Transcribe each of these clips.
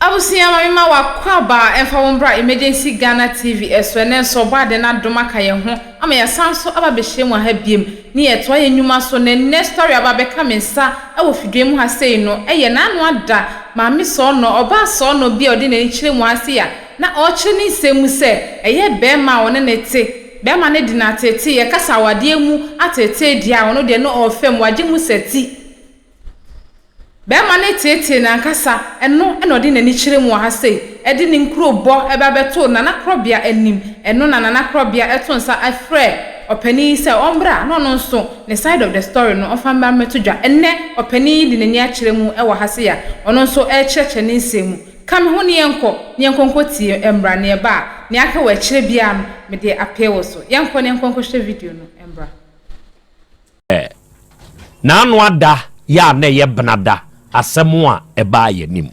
Abusua ma me ma w'akwaaba a ɛmfa wo mbra Emergency Ghana TV so ɛnɛ nso ɔbɔaden adom aka yɛn ho ama yɛasan so aba abɛhyia mu wɔ ha biom ne yɛtoa yɛn nwuma so na ɛnɛ story a aba abɛka me nsa wɔ fidua mu ha sei no ɛyɛ n'ano ada maame sɔɔnɔ ɔbaa sɔɔnɔ bi a ɔde n'ani kyerɛ mu ha sei a na ɔrekyerɛ ne nsɛm mu sɛ ɛyɛ bɛɛma a ɔne ne te bɛɛma no de no ateetee yɛkasa awadeɛ mu ateetee deɛ a ɔno deɛ no ɔɔfɛm wagye mu sɛ ti. Barima no teetee n'ankasa, ɛno na ɔde n'ani kyerɛ mu wɔ ha sei, de ne nkurobɔ ba bɛtoo Nana Korɔbea anim, ɛno na Nana Korɔbea to nsa frɛɛ ɔpanin yi sɛ ɔmmra na ɔno nso ne side of the story no ɔmfa mmra mmɛto dwa. Ɛnnɛ, ɔpanin yi de n'ani akyerɛ mu wɔ ha sei a ɔno nso rekyerɛkyerɛ ne nsɛm mu. Ka me ho ne yɛnkɔ, ne yɛnkɔ nkɔtie mmra ne ɛba a, nea aka wɔ akyire biara no, mede apee wo so. Yɛnkɔ na yɛnkɔ nkɔhwɛ video no mmra. Ɛ. N'ano ada yɛ a na ɛyɛ benada asɛm a ɛbaa yɛn anim.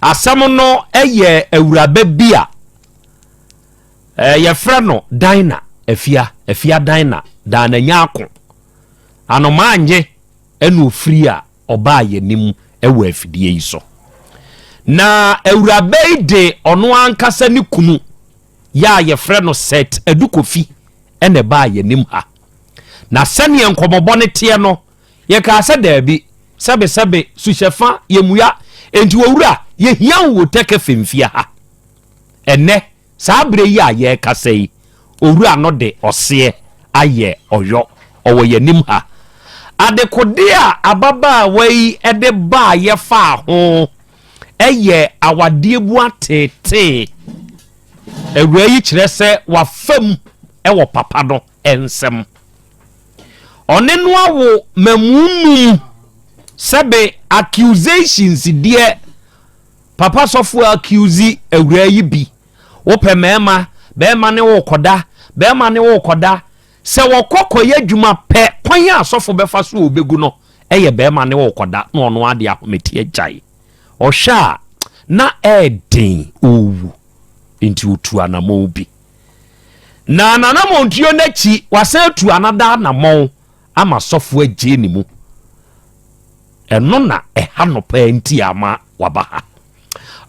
Asɛm no yɛ awuraba bi a yɛfrɛ no Dina Afia, Afia Dina, Dina Nyako. Anomaa nye ɛna ofiri a ɔbaa yɛn anim wɔ afidie yi so. Na awuraba yi de ɔno ankasa ne kunu yɛ a wɔfrɛ no Seth Adu Kofi na ɛbaa yɛn anim ha. Na sɛnea nkɔmmɔbɔ no teɛ no, yɛkaa sɛ daabi, sɛbesɛbe, suhyɛfa, yɛmmua. Enti Owura, yɛhia wo wɔ Tɛkɛ Fimfie ha. Ɛnnɛ, saa berɛ yi a yɛrekasa yi, Owura no de ɔseɛ ayɛ Ɔyɔ. Ɔwɔ yɛn anim ha. Adekodeɛ a ababaawa yi de baaeɛ faa ho. yɛ awadeɛ bu ateetee. Awuraa yi kyerɛ sɛ wafam wɔ papa no nsam. Ɔne no awo mamu num sɛbe accusations deɛ papa sɔfo accuse awuraa yi bi. Wopɛ mmarima, barima ne wo kɔda, barima ne wo kɔda. Sɛ wɔkɔ kɔyɛ adwuma pɛ kwan a sɔfo bɛfa so a ɔbɛgu no. ɛyɛ bɛɛma ne ɔɔkɔda na ɔno ara de ahomete agyae. Ɔhwɛ a na ɛɛden ɔɔwu nti ɔtuu anamɔn bi. Na nanamɔntuo no akyi wasan atu anada anamɔn ama sɔfoɔ agyee ne mu. Ɛno na ɛha no paa nti a ama waba ha.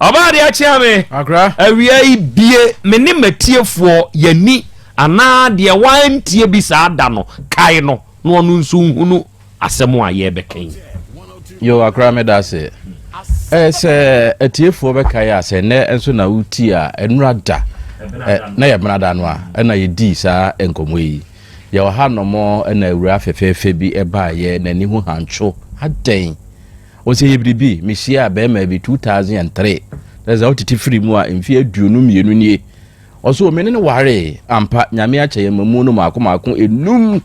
Ɔbaa deɛ akyea me. Akra. Awia yi bie me ne matiefoɔ yani anaa deɛ wantie bi saa da no kae no na ɔno nso nhunu asɛm a yɛbɛka yi. Yo akra me da se. Eh, sɛ atiefoɔ bɛkae a sɛ nnɛ nso na wotie a ɛnura da eh, na yɛ bena da no a ɛna yɛdii saa nkɔmmɔ yi yɛwɔ ha nom ɛna awura fɛfɛɛfɛ bi ɛbaeɛ n'ani ho hantwo adɛn Ɔse yɛ biribi, mehyiaa bɛɛmaa bi two thousand and three, kyerɛ sɛ ɔtete firi mu a mfeɛ aduonu mmienu nie, ɔse o mene no waree, ampa Nyame akyɛ yɛn mamuo no maako maako enum,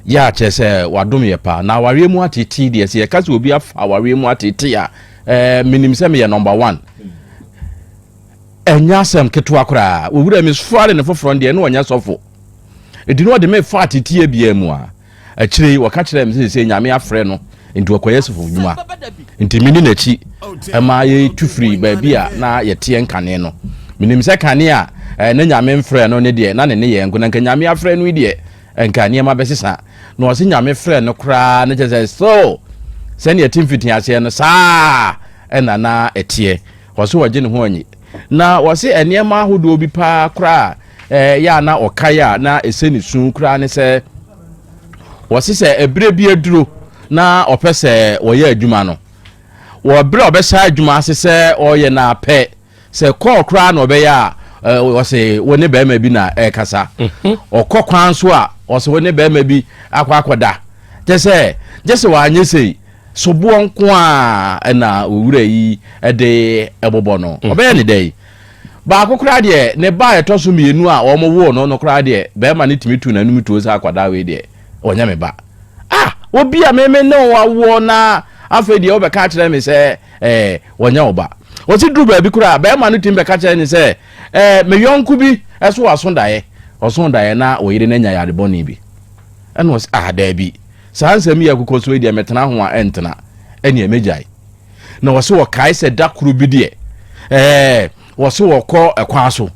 ya kyerɛ sɛ wadom yɛ paa, na awareɛ mu atetee deɛ sɛ yɛka sɛ obi afa awareɛ mu atetee a eh, menim sɛ meyɛ number one ɛnyɛ asɛm ketewa koraa, owura mi sɔre ne foforɔ deɛ ne ɔnyɛ sɔfo, ɛdi no ɔde me fa ateteɛ biaa mu a Akyire yi, wɔka kyerɛɛ me sɛ seesei Nyame afrɛ no nti ɔkɔyɛ sɔfo dwuma. Nti mene n'akyi ma yɛtu firii baabi a na yɛteɛ nkane no. Menim sɛ kane a na Nyame mfrɛɛ no no deɛ na ne nneyɛɛ nko na nka Nyame afrɛ no yi deɛ nka nneɛma bɛsesa. Na ɔse Nyame frɛɛ no koraa no kyerɛ sɛ still sɛdeɛ ɛte mfitiaseɛ no saa na na ɛteɛ. Ɔse ɔgye ne ho anyi. Na ɔse nneɛma ahodoɔ bi paa koraa a ɛyɛ a na ɔkae a na ɛsɛ ne su koraa ne sɛ ɔse sɛ ɛberɛ bi aduro na ɔpɛ sɛ ɔyɛ adwuma no wɔ berɛ a ɔbɛhyɛ adwuma ase sɛ ɔyɛ no apɛ sɛ kɔɔ koraa na ɔbɛyɛ a ɔse wo ne bɛrima bi na ɛkasa mhm. ɔkɔ kwan so a ɔse wo ne bɛrima bi akɔ akɔda kyɛ sɛ gye sɛ wanyɛ sei Soboɔ nko ara na owura yi de bobɔ no. Ɔbɛyɛ no dɛn? Baako koraa deɛ, ne ba a ɛtɔ so mmienu a wɔwoo no no koraa deɛ, barima no tumi tu n'anom tuo sɛ akwadaa wei deɛ, ɔnyɛ me ba. Ah! Obi a me me ne wo awoɔ na afei deɛ wobɛka akyerɛ me sɛ eh, ɔnyɛ wo ba. Wɔsi duru baabi koraa, barima no tumi bɛka kyerɛ ne sɛ eh, me yɔnko bi so aso daeɛ, ɔso daeɛ na ɔyere no anya yare bɔne bi. Ɛna ɔse ah, daabi. Saa nsɛm yi a ɛkokɔ so yi deɛ, mɛtena ho a, ɛntena. Ɛnneɛ mɛgyae. Na ɔse ɔkae sɛ da koro bi deɛ, ɛɛ, ɔse ɔkɔ ɛkwan so.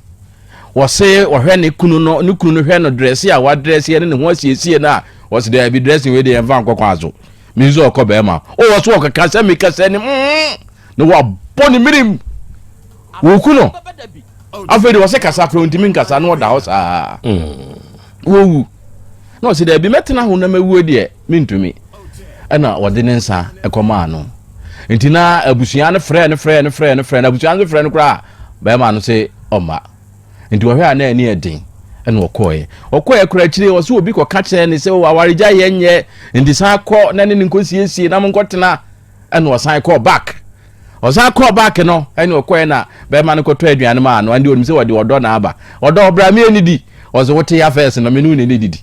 Ɔse ɔhwɛ ne kunu no, ne kunu no hwɛ no drɛse a wadrɛseɛ ne ne ho asiesie no a, ɔse daabi dressing wei deɛ yɛmfa nkɔ kwan so. Menim sɛ ɔkɔ bɛrima. O, ɔse ɔkeka sɛ meka sɛ ne mm, na wabɔ ne mirim. Wɔku no. Afei deɛ ɔse kasa koraa ɔntumi nkasa na ɔda hɔ saa. Mm. Wɔwu. Na ɔse, Daabi, mɛtena ho na mawuo deɛ, mentumi. Ɛna ɔde ne nsa kɔmaa no. Nti na abusua no frɛɛ no, frɛɛ no, frɛɛ no, frɛɛ no. Abusua no frɛ no koraa a, bɛrima no se ɔmma. Nti ɔhwɛ a na ani yɛ den, ɛna ɔkɔɔɛ. Ɔkɔɔɛ koraa akyire, ɔse obi kɔka kyerɛɛ ne sɛ, o, awaregyaeɛ nyɛ, nti san kɔ na ne ne nkɔsiesie na monkɔtena. ɛna ɔsan kɔɔ back ɔsan kɔɔ back no ɛna ɔkɔɛ na bɛrima no kɔtɔ aduane maa no ɛna onim sɛ wɔde ɔdɔ na aba ɔdɔ ɔbra mi ɛni di ɔsɛ wote ya fɛs no me no ne ne didi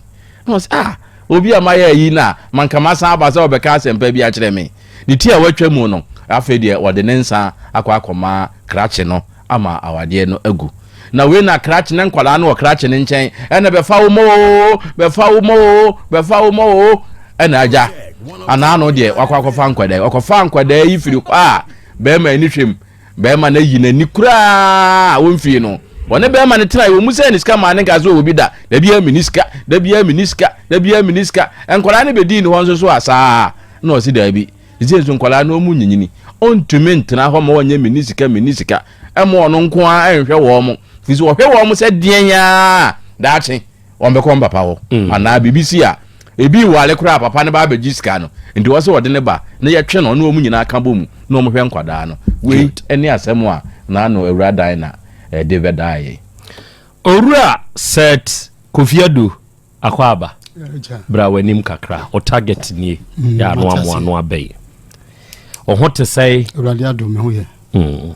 na ɔsɛ ah obi a mayɛ ayi na manka masan aba sɛ ɔbɛka asɛmpa bi akyerɛ me ne ti a watwa mu no afei deɛ ɔde ne nsa akɔ akɔma krakye no ama awadeɛ no agu Na wei na krakye na nkwadaa no wɔ krakye ne nkyɛn ɛna bɛfa wo mɔ oo bɛfa wo mɔ oo bɛfa wo mɔ oo ɛna agya anaa no deɛ wakɔ akɔfa nkwadaa wakɔfa nkwadaa yi firi hɔ a bɛrima ani hwɛ mu bɛrima no ayi n'ani koraa a wɔmfie no wɔne bɛrima no tena wɔ mu sɛ ne sika maa ne nka sɛ ɔwɔ bi da da biara mini sika da biara mini sika da biara mini sika nkwadaa no bɛdii ne hɔ nso so a saa na ɔsi daabi Seisei nso nkwadaa no wɔn nyinyini, ɔntumi ntena hɔ ma wɔnyɛ menni sika menni sika, ɛma ɔno nko ara nhwɛ wɔn, firi sɛ ɔhwɛ wɔn sɛ deɛn ara daakye wɔn bɛkɔ wɔn papa hɔ, mm. anaa biribi si a ebi nwale koraa papa no ba abɛgye sika no nti wɔsɛ wɔde ne ba na yɛtwe no ɔne wɔn nyinaa ka bɔ mu na wɔn hwɛ nkwadaa no wei ne asɛm a n'ano awura dan na ɛde bɛdaa yɛn. Owura Seth Kofi Addo Akwaaba, bra w'anim kakra. O target nie mm, yɛ ano amoa ano abɛyi. O ho te sɛe. Awurade adom me ho yɛ. Mm.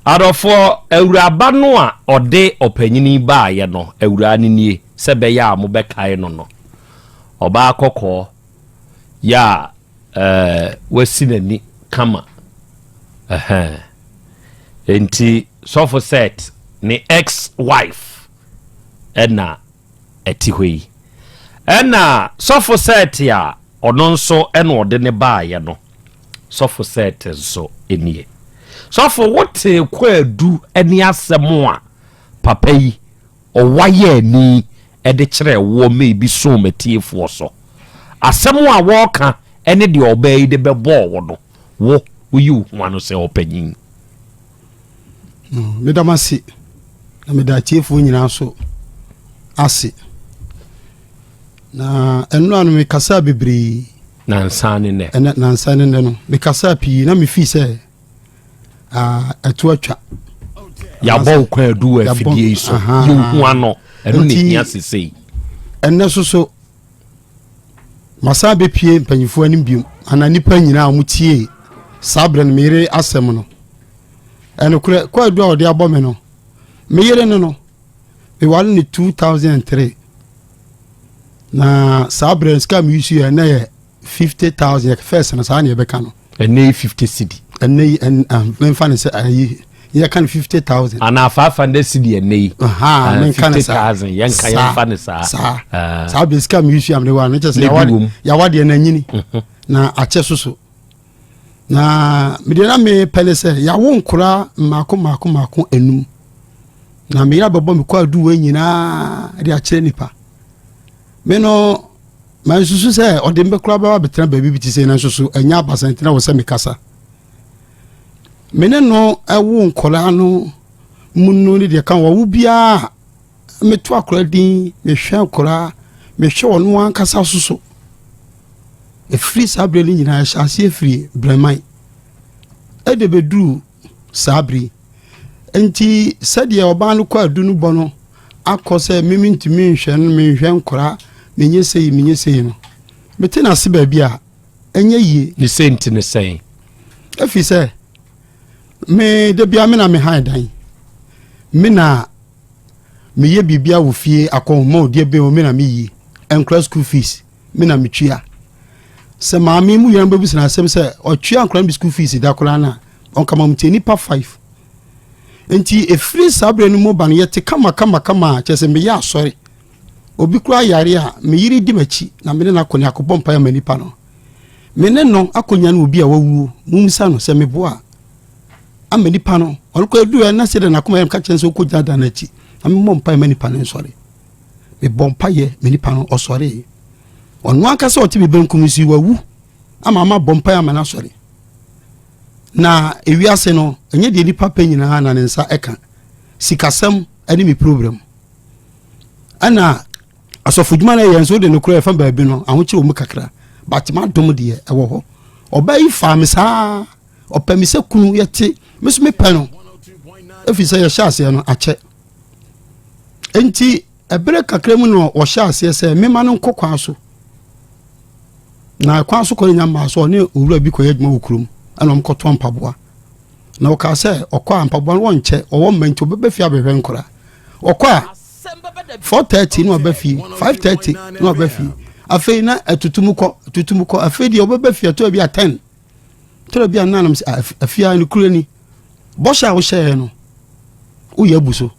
Adɔfoɔ awuraba no a ɔde ɔpanyini baayɛ no awuraa no nie sɛ bɛyɛ a mobɛkae no no ɔbaa kɔkɔɔ yɛ a eh, wasi n'ani kama nti sɔfo set ne ex wife ɛna ɛte hɔ yi. Ɛnna sɔfo Set a ɔno nso na ɔde no baeɛ no, sɔfo Set nso nie. Sɔfo, wotee kwaadu ne asɛm a papa yi, ɔwayɛni de kyerɛɛ woɔ ma ebi soo m'atiefoɔ so. Asɛm a wɔreka ne deɛ ɔbaa yi de bɛbɔɔ wo no, wo, woyi wo ho ano sɛ ɔpanyin. Meda mo ase na meda atiefoɔ nyinaa nso ase. Na ɛno ano mekasaa bebree. Nansa ne nnɛ. Ɛnɛ nansa ne nnɛ no mekasaa pii na mefii sɛ ɛto atwa. Yɛabɔ wo kwan adu wɔ afidie yi so. Yɛhu ano. Ɛno ne hia sesei. Ɛnɛ so so Masan bɛpue mpanyimfoɔ anim biom anaa nnipa nyinaa a wɔtiee saa berɛ no me yere asɛm no. Ɛnokorɛ, kwaadu a wɔde abɔ me no, me yere no no, meware no 2003. Na saa berɛ no sika a meyusuiɛ na yɛ fifty thousand yɛ fɛs no saa na yɛbɛka no. ɛnɛ yi fifty cedi. ɛnɛ yi ɛn ah, menfa ne sɛ ayi yɛka no fifty thousand. anaa five hundred cedi ɛnɛ yi. Ah, menka ne saa fifty thousand yɛnka yɛnfa ne saa. saa ah. saa bɛ sika mi yusu amene wa ne kyɛ sɛ yawa deɛ na nyini mhm. na akyɛ soso na medeɛ na me pɛ ne sɛ yawo nkora mmaako mmaako mmaako enum na meyɛ abɛbɔ me kɔ aduwa nyinaa de akyerɛ nipa me no. Mansusu sɛ ɔde me bɛkora bɛba abɛtena baabi bi te sɛ nanso so ɛnyɛ abasantene wɔ sɛ mekasa. Me ne no woo nkɔlaa no mu no ne deɛ ka wɔwo biara meto akora din mehwɛ akora mehwɛ ɔno ankasa so so ɛfiri saa berɛ no nyinaa ɛhyɛ aseɛ firi brɛman ɛde bɛduru saa bere Enti sɛdeɛ ɔbaa no kɔ adu no bɔ no akɔ sɛ me mentumi nhwɛ no menhwɛ nkora menyɛ sei menyɛ sei no mete n'ase baabi a ɛnyɛ yie. Ne sɛ nti ne sɛn? Ɛfiri sɛ me da bia me na mehan dan me na meyɛ biribia wɔ fie akɔnhoma ɔdeɛ bɛn o me na meyi nkora school fees me na metua sɛ maame mu yɛn bɛbisa no asɛm sɛ ɔtua nkora no bi school fees da koraa no a ɔnka ma mtie nipa five nti ɛfiri saa berɛ no mu ba no yɛte kamakamakama a kyerɛ sɛ meyɛ asɔre obi koraa yare a meyere di m'akyi na mene no akɔ ne akɔbɔ mpaeɛ ma nipa no me ne no akɔnya no obi a wawuo mumisa no sɛ meboa ama nipa no ɔno kɔ aduru ɛna sɛ dɛ nakoma yɛm ka kyerɛ sɛ wokɔgyina da no akyi na memmɔ mpaeɛ ma nipa no nsɔre mebɔ mpaeɛ me nipa no ɔsɔree ɔno ankasa ɔte me benkum si wawu ama mabɔ mpaeɛ ama no asɔre na ewiase no ɛnyɛ deɛ nipa pɛ nyinaa na ne nsa ɛka sikasɛm ɛne me program ɛna asɔfo dwuma no ɛyɛ nso wode no korɔ ɛfa baabi no ahokyerɛ wɔ mu kakra but madom deɛ ɛwɔ hɔ ɔbaa yi faa me saa ɔpɛ me sɛ kunu yɛte me so mepɛ no ɛfiri sɛ yɛhyɛ aseɛ no akyɛ Enti, ɛberɛ kakra mu na ɔhyɛ aseɛ sɛ mema no nkɔ kwan so na kwan so kɔ no nya mmaa so ɔne owura bi kɔyɛ adwuma wɔ kurom ɛna wɔn kɔtɔ mpaboa na ɔkaa sɛ ɔkɔ a mpaboa no wɔnkyɛ ɔwɔ mma nti ɔbɛbɛ fie abɛhwɛ nkora ɔkɔ a four thirty na ɔbɛ fie five thirty na ɔbɛ fie afei na ɛtutum kɔ ɛtutum kɔ afei deɛ ɔbɛbɛ fie ɛtɔ bi a ten. tɛrɛ bi a nna nam sɛ afia ah, no kura ni bɔhyɛ a wohyɛɛ no woyɛ abu so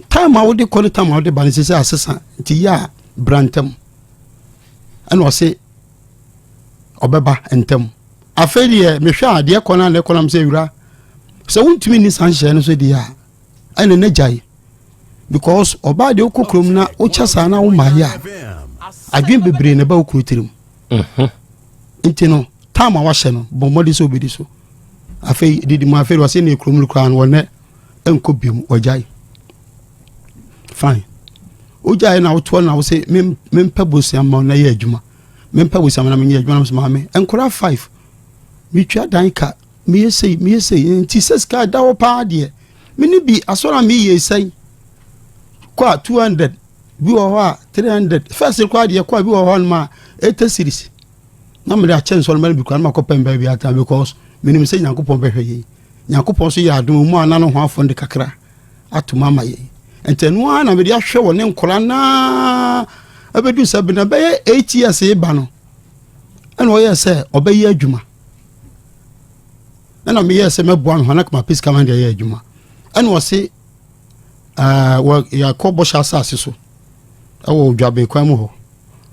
tam a wode kɔ ne tam a wode ba no sɛ sɛ asesa nti yɛ a bra ntam ɛna ɔse ɔbɛba ntam afei deɛ mehwɛ a deɛ kɔ no a na ɛkɔ nam sɛ awura sɛ wontumi nni saa nhyɛɛ no so deɛ a ɛne ne gyae because ɔbaa deɛ wokɔ kurom na wokyɛ saa na womaayɛ a adwene bebree na ɛba wo kuro tirim mhm. nti no tam a wahyɛ no bɔ mmɔden sɛ wobɛdi so afei didi mu afei wɔse ne kurom no koraa no wɔnɛ ɛnkɔ biom ɔgyae fine wogyae na wotoɔ na wo se mempɛ bosea ma na yɛ adwuma mempɛ bosea ma na menyɛ adwuma na mesɛ maame nkora five metwa dan ka Meyɛ sei, meyɛ sei, nti sɛ sika da hɔ paa deɛ, me ne bi asɔre a meyɛ sɛn kɔ a two hundred bi wɔ hɔ a three hundred first kɔ a deɛ kɔ a bi wɔ hɔ nom a eighty series na mede akyɛ nsɔre mɛne bi kɔ a na makɔ pɛn bɛɛ bi ata because menim sɛ nyankopɔn bɛhwɛ yɛn nyankopɔn so yɛ adom mu a na no ho afɔ de kakra atom ama yɛn nti ɛno ara na mede ahwɛ wɔ ne nkora naa ɛbɛdu sɛ bena bɛyɛ eight years ba no ɛna ɔyɛ sɛ ɔbɛyɛ adwuma ɛna meyɛɛ sɛ mɛboa no hana kama pɛsika ma de ayɛ adwuma ɛna ɔse yɛakɔ bɔhyɛ asase so ɛwɔ odwaben kwan mu hɔ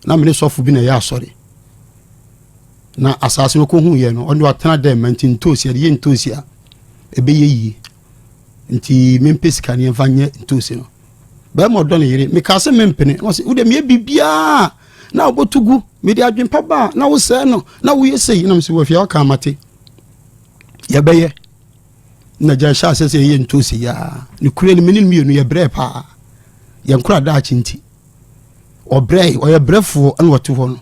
na mene sɔfo bi na ɛyɛ asɔre na asase no kɔhu yɛ no ɔno atena dɛ ma nti ntoosi ɛde yɛ ntoosi a ɛbɛyɛ yie nti mempɛ sika ne ɛmfa nyɛ ntoosi no bɛrima ɔdɔ ne yere mekaa sɛ mempene na ɔsɛ wode meyɛ biribiaa na wobɛto gu mede adwempa baa na wosɛe no na woyɛ sei nam sɛ wafia waka mate yɛbɛyɛ na gya hyɛ asɛ sɛ yɛyɛ ntoosi yaa ne kura no mene no mmienu yɛbrɛ paa yɛnkora daakye nti ɔbrɛ ɔyɛ brɛfoɔ ɛna ɔte hɔ no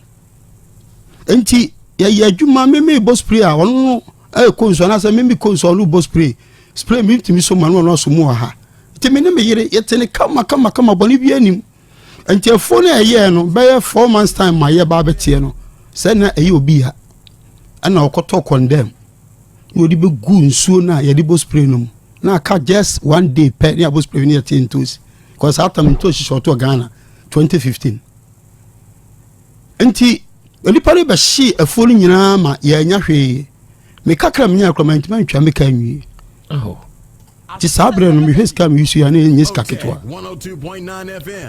nti yɛyɛ adwuma meme bɔ spray a ɔno no ɛkɔ nsu anaasɛ meme kɔ nsu a ɔno bɔ spray spray mi ntumi so ma no ɔno aso mu wɔ ha nti me ne me yere yɛte ne kama kama kama bɔne bi anim nti afuo no ɛyɛɛ no bɛyɛ four months time ma yɛ ba bɛteɛ no sɛ na ɛyɛ obi ya ɛna ɔkɔtɔ kɔndɛm na ɔde bɛgu nsuo no a yɛde bɔ spray no mu na aka just one day pɛ ne abɔ spray no yɛte ntosi kɔ saa tam ntosi hyɛ ɔtɔ ghana 2015 Enti nnipa no bɛhyee afuo no nyinaa ma yɛanya hwee. Me kakra menyaa kora mantumi antwa me ka nwie. Oh. Nti saa berɛ no mehwɛ sika meyi so yɛ ne ɛnyɛ sika ketewa.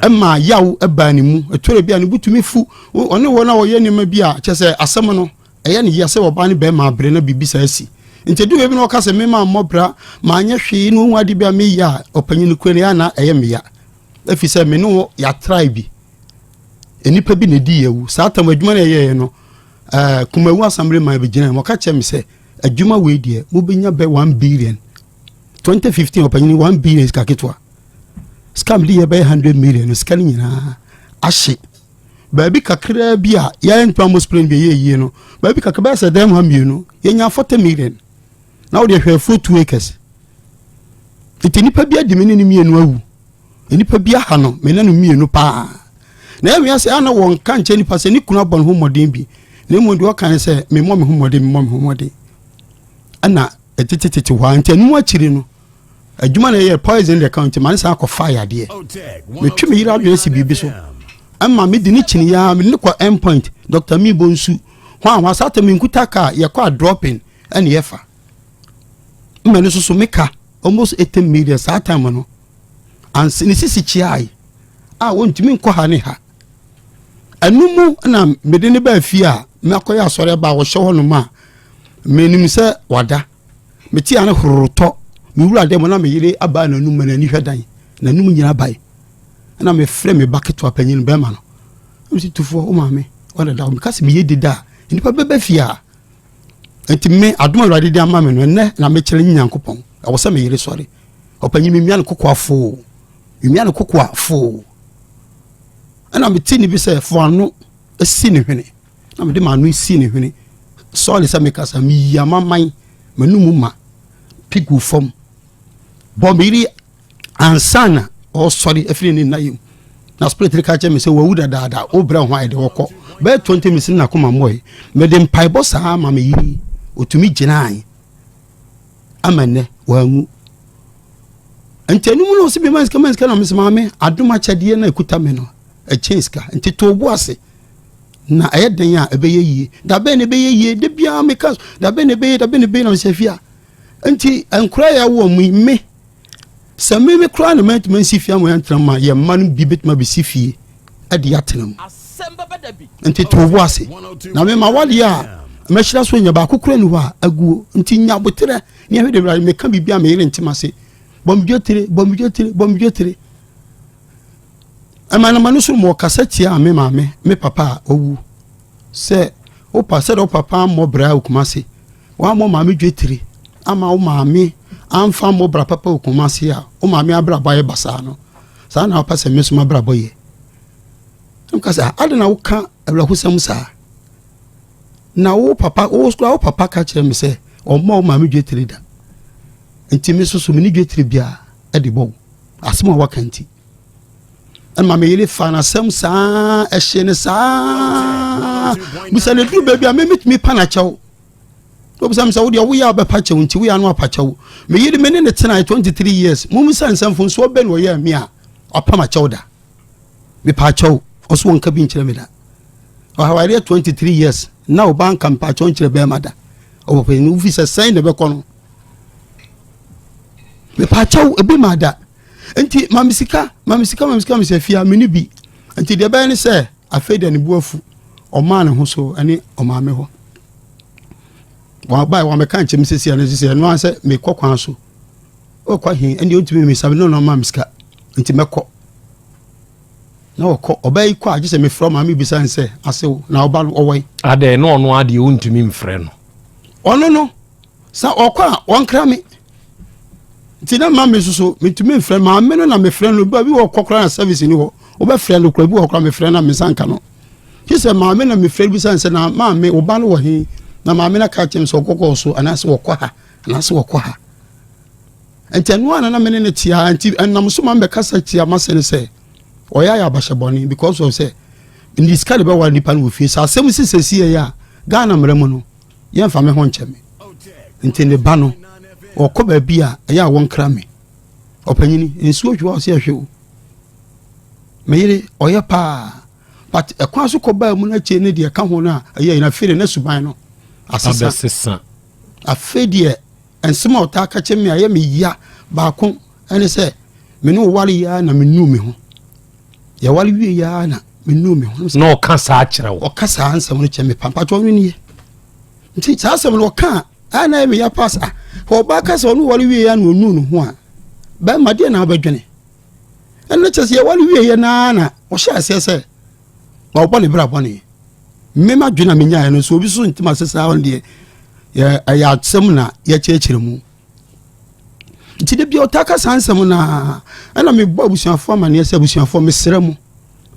Ɛma yaw ɛbaa ne mu. Ɛtɔrɔ bi a ne bo tumi fu. Ɔne wɔn a wɔyɛ nneɛma bi a kyɛ sɛ asɛm no ɛyɛ ne yia sɛ ɔbaa ne bɛrima abere na biribi saa asi. Nti ɛdu baabi na ɔka sɛ mema mmɔ bra ma anyɛ hwee na ɔhu ade bi a meyɛ a ɔpanyin no kura no yɛ na ɛyɛ meya. Ɛfiri sɛ me ne wɔ yɛatrae bi. nnipa bi na ɛdii awu saa tam adwuma no ɛyɛeɛ no uh, kumawu asamble man bɛgyina mu ɔka kyerɛ me sɛ adwuma wei deɛ mobɛnya bɛ 1 billion 2015 ɔpanyini 1 billion sika ketewa sika mede yɛ bɛyɛ 100 million no sika no nyinaa ahye baabi kakraa bi a yɛyɛ nipa mo spring bi ɛyɛ yie no baabi kakra bɛyɛ sɛ dɛm ha mmienu yɛnya 40 million na wode hwɛ afuo 2 acres nti nipa bi adimi ne ne mmienu awu Nnipa bi aha no me ne no mmienu pa ara. Na ɛwea sɛ a na wɔnka nkyerɛ nipa sɛ ne kunu abɔ ne ho mmɔden bi, na mmom deɛ ɔka ne sɛ, memmɔ me ho mmɔden, memmɔ me ho mmɔden. Ɛna ɛtetetete hɔ a, nti ɛno akyiri no, adwuma na ɛyɛ poison deɛ ka nti ma ne san akɔfa yadeɛ. Metwe me yere adwene si biribi so. Ɛma me di ne kyini ya, me ne kɔ end point, Dr. Mibo nsu. Hɔ a hɔ asa atɛ me nkuta kaa, yɛkɔ a dropping ɛne yɛfa. Mmɛ no soso me ka, almost 18 million saa time no. ansa ne sisi kyeae a wontumi nkɔ ha ne ha ɛno mu na mede ne baa fie a makɔyɛ asɔre aba a wɔhyɛ hɔ nom a menim sɛ wada mete a ne hororotɔ mewura dɛ mu na meyere abaa n'anum ma n'ani hwɛ dan n'anum nyina bae na mefrɛ me ba ketewa panyin bɛrima no mesi tufoɔ wo maame ɔdada meka sɛ meyɛ di da a nnipa bɛbɛ fie a nti me adom a awurade de ama me no ɛnɛ na mekyerɛ ne nyankopɔn ɛwɔ sɛ meyere sɔre ɔpanyin memia no kokoa foo memia no kokoa foo ɛna mete ne bi sɛ fo ano si ne hwene na mede maano si ne hwene sɔre sɛ mekasa meyi amaman m'anum ma pigu fam bɔ meyere ansa na ɔresɔre afiri ne nna yɛ mu na spirit no ka kyerɛ me sɛ wawu dadaada wobrɛ ho a yɛde wɔkɔ bɛyɛ 20 minutes na koma mmɔe mede mpaebɔ saa ma me yere ɔtumi gyinae ama nnɛ wanwu nti ɛno mu no ɔsɛ bima sika ma sika na mesɛ maame adom akyɛdeɛ na ɛkuta me no ɛkyɛn sika nti too bo ase na ɛyɛ dɛn a ɛbɛyɛ yie dabɛn na ɛbɛyɛ yie da biara meka dabɛn na ɛbɛyɛ dabɛn na ɛbɛyɛ na mesɛ fie a nti nkora yɛ awoɔ mu me sɛ meme koraa na mantumi ansi fie ama yɛntena ma yɛn mma no bi bɛtumi abɛsi fie de atena mu nti to wo ase na mema wadeɛ a mɛhyira so nya baako kora ni hɔ a aguo nti nya boterɛ ne ahwɛ de wurade meka biribi a meyere ntem ase bɔmdwetire bɔmdwetire bɔmdwetire ɛmanama no so mɔ kasa tia me maame me papa a ɔwu Sɛ wopa sɛdeɛ wo papa ammɔ bra wɔ Kumasi, wammɔ maame dwetire ama wo maame amfa ammɔ bra papa wɔ Kumasi a, wo maame abrabɔ ayɛ basaa no, saa na wopɛ sɛ me nso m'abrabɔ yɛ? Na meka sɛ, adɛn na woka awerɛhosɛm saa? Na wo papa, wo kora wo papa ka kyerɛ me sɛ ɔmmɔ wo maame dwetire da. Nti me nso so me ne dwetire biara de bɔ wo. Asɛm a waka nti. ɛma me yere fa n'asɛm saa ɛhyɛ ne saa bisa ne duru baabi a memetumi pa n'akyɛw obisa me sɛ wodeɛ woyɛ a wobɛpa kyɛw nti woyɛ a na wapa kyɛw me yere me ne ne tenae 23 years momu sɛ nsɛmfo nso ɔbɛ ne ɔyɛ me a wapa m'akyɛw da mepa akyɛw ɔso wɔnka bi nkyerɛ me da ɔhawareɛ 23 years na ɔba nka mpa akyɛw nkyerɛ bɛrima da ɔwɔ pɛ ne wofi sɛ sɛn na ɛbɛkɔ no mepa akyɛw ebi ma da nti ma me sika ma me sika ma me sika ma me sɛ fia me ne bi nti deɛ ɛbɛyɛ ne sɛ afei deɛ ne bu afu ɔmaa ne ho so ɛne ɔmaame hɔ wabae wamɛka nkyɛm sɛsi ɛno sɛsi ɛno ara sɛ mekɔ kwan so ɔkɔ he ɛndeɛ ɔntumi me sa me ne ɔno ɔmaa me sika nti mɛkɔ na ɔkɔ ɔbaa yi kɔ a gye sɛ mefrɛ ɔma mebisa n sɛ asew na ɔba no ɔwɔ yi adɛn na ɔno adeɛ wontumi mfrɛ no ɔno no sɛ ɔkɔ a wɔnkra me nti na ma me nso so metumi mfrɛ maame no na mefrɛ no ba bi wɔ kɔ koraa na service ni hɔ wobɛfrɛ no kora bi wɔ koraa mefrɛ na mensa nka no gye sɛ maame na mefrɛ no bi sane sɛ na maame wo ba no wɔ he na maame no ka kyɛm sɛ ɔkɔkɔɔ so anaasɛ wɔkɔ ha anaasɛ wɔkɔ ha nti ɛno ana na mene no tiaa nti ɛnam so ma mebɛkasa tia masɛ no sɛ ɔyɛ ayɛ abahyɛ bɔne because of sɛ ndi sika de bɛware nipa no wɔ fie sɛ asɛm sisɛsi yɛ a ghana mmerɛ mu no yɛmfa me ho nkyɛ me nti ne ba no ɔkɔ baabi a ɛyɛ a wɔnkra me ɔpanyini nsuo hwiwa ɔsɛ ɛhwe o me yere ɔyɛ paa but ɛkwan so kɔbaa mu no akyire ne deɛ ɛka ho no a ɛyɛ yɛn afei de ne suban no asesa afei deɛ nsɛm a ɔtaa ka kyɛ me a ɛyɛ me ya baako ɛne sɛ me ne ɔware yɛ na menuu me ho yɛware wie yi ara na menuu me ho na ɔka saa kyerɛ wo ɔka saa nsɛm no kyerɛ me pampatwɔ no nie nti saa asɛm no ɔka a ɛa na ɛmeyɛ pas a ɔbaa ka sɛ ɔne ware wie a na ɔnu ne ho a bɛrima deɛ na wobɛdwene ɛno kyɛ sɛ yɛware wie yɛ naa na ɔhyɛ aseɛ sɛ ma wɔbɔ ne bra bɔne mmema dwene a menyaeɛ no so obi so ntim ase saa ɔno deɛ ɛyɛ asɛm na yɛkyerɛkyerɛ mu nti da bia ɔtaa ka saa nsɛm no a ɛna mebɔ abusuafoɔ amaneɛ sɛ abusuafoɔ mesrɛ mo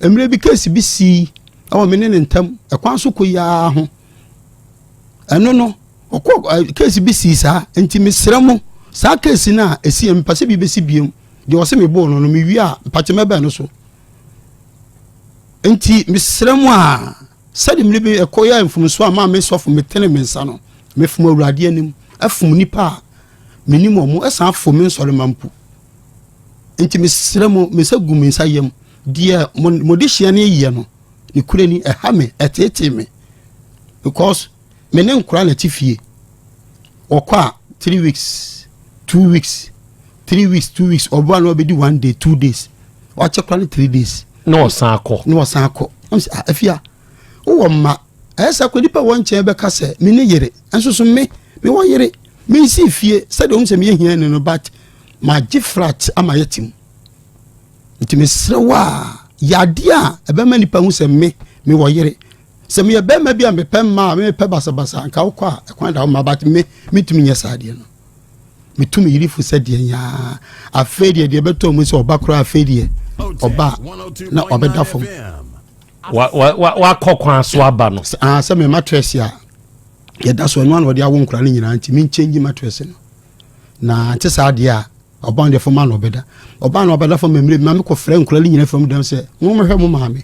mmerɛ bi case bi sii ɛwɔ me ne ne ntam ɛkwan so kɔ yiaa ho ɛno no ɔkɔ case bi sii saa nti mesrɛ mo saa case no a ɛsi yɛ mepɛ sɛ bi bɛsi biam deɛ ɔse mebɔɔ no no mewie a mpakyɛ mɛbɛn no so nti mesrɛ mo a Sɛde mmere bi ɛkɔ yɛɛ mfomso a maa me sɔfo metenee me nsa no, mefom Awurade anim, fom nnipa a menim wɔn, ɛsan fom me nsɔremma mpo. Enti mesrɛ mo, me nsa gu me nsa yam, deɛ mo, mo dehyeɛ no yɛ no, ne kura ni, ɛha me, ɛteetee me, because Me ne nkora na ɛte fie. Wɔkɔ a three weeks, two weeks, three weeks, two weeks. Ɔbɔ a na ɔbɛdi one day, two days. Wakyɛ kora ne three days. Na ɔsan akɔ. Na ɔsan akɔ. Ah, afia, wowɔ mma. Ɛyɛ sɛ kora nipa wɔ nkyɛn bɛka sɛ me ne yere. Nso so me, me wɔ yere. Me nsi fie sɛdeɛ ɔhu sɛ meyɛ hia ne no but magye flat ama yɛ tim. Nti mesrɛ wo a, yadeɛ a ɛbɛma nipa hu sɛ me, me wɔ yere. sɛ meyɛ bɛrima bi a mepɛ mmaa mepɛ basabasa nka wokɔ a ɛkwan da wo ma but me metumi nyɛ saa deɛ no metumi yiri fo sɛ deɛ nyaa afei deɛ deɛ ɛbɛtɔ mu sɛ ɔba koraa afei deɛ ɔba na ɔbɛda fam wakɔ kwan so aba no ah, sɛ me matress a yɛda so ɛno ana ɔde awo nkora no nyinaa nti menkyɛngyi matress no na nte saa deɛ a ɔba deɛ fam ana ɔbɛda ɔba na ɔbɛda fam mmere bi ma mekɔfrɛ nkora no nyinaa fam dɛm sɛ mommɛhwɛ mo maame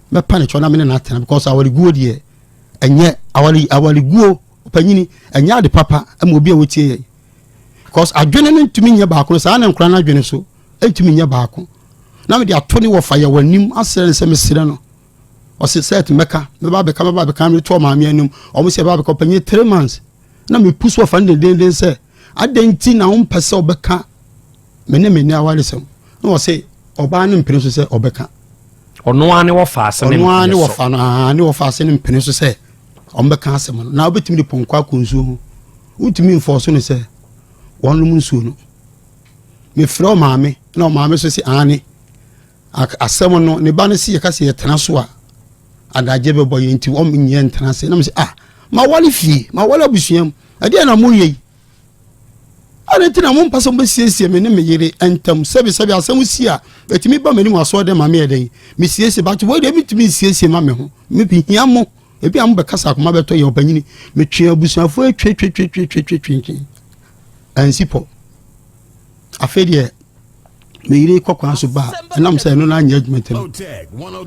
mɛpa ne kyɛw na me ne no atena because awareguo deɛ ɛnyɛ aware awareguo ɔpanyini ɛnyɛ ade papa ɛma obi a wotie yɛ because adwene no ntumi nyɛ baako saa na nkora no adwene so ntumi nyɛ baako na mede ato ne wɔfa yɛ w'anim asrɛ no sɛ mesrɛ no ɔse sɛ te mɛka mɛba bɛka mɛba bɛka mede to ɔmaame anim ɔmo sɛ ɛba bɛka ɔpanyini three months na mepu so ɔfa no dendenden sɛ adɛn nti na wompɛ sɛ ɔbɛka Me ne me nni awaresɛm. Na wɔse ɔbaa no mpene so sɛ ɔbɛka. Ɔno ara ne wɔfa ase ne mpene so. Ɔno ara ne wɔfa no aa ne wɔfa ase ne mpene so sɛ ɔmbɛka asɛm no. Na wobɛtumi de pɔnkɔ akɔ nsuo ho. Wontumi mfɔɔ so no sɛ wɔnom nsuo no. Mefrɛ ɔmaame na ɔmaame so se aane. Asɛm no ne ba no se yɛka sɛ yɛtena so a adagye bɛbɔ yɛn nti wɔm nyɛ ntena ase. Na mese ah mawale fie mawale abusuam ɛdeɛ na moyɛ yi. Adɛn nti na mompɛ sɛ mobɛsiesie me ne me yere ntam sɛbesɛbe asɛm si a ɛtumi ba m'anim asoɔ dɛ ma meyɛ dɛn mesiesie but wei deɛ mentumi nsiesie ma me ho mehia mo ebi a mobɛkasa akoma bɛtɔ yɛ ɔpanyini metwe abusuafoɔ atwetwetwetwetwetwetwe ansi pɔ afei deɛ me yere kɔ kwan so baa ɛnam sɛ ɛno no anyɛ adwuma ntam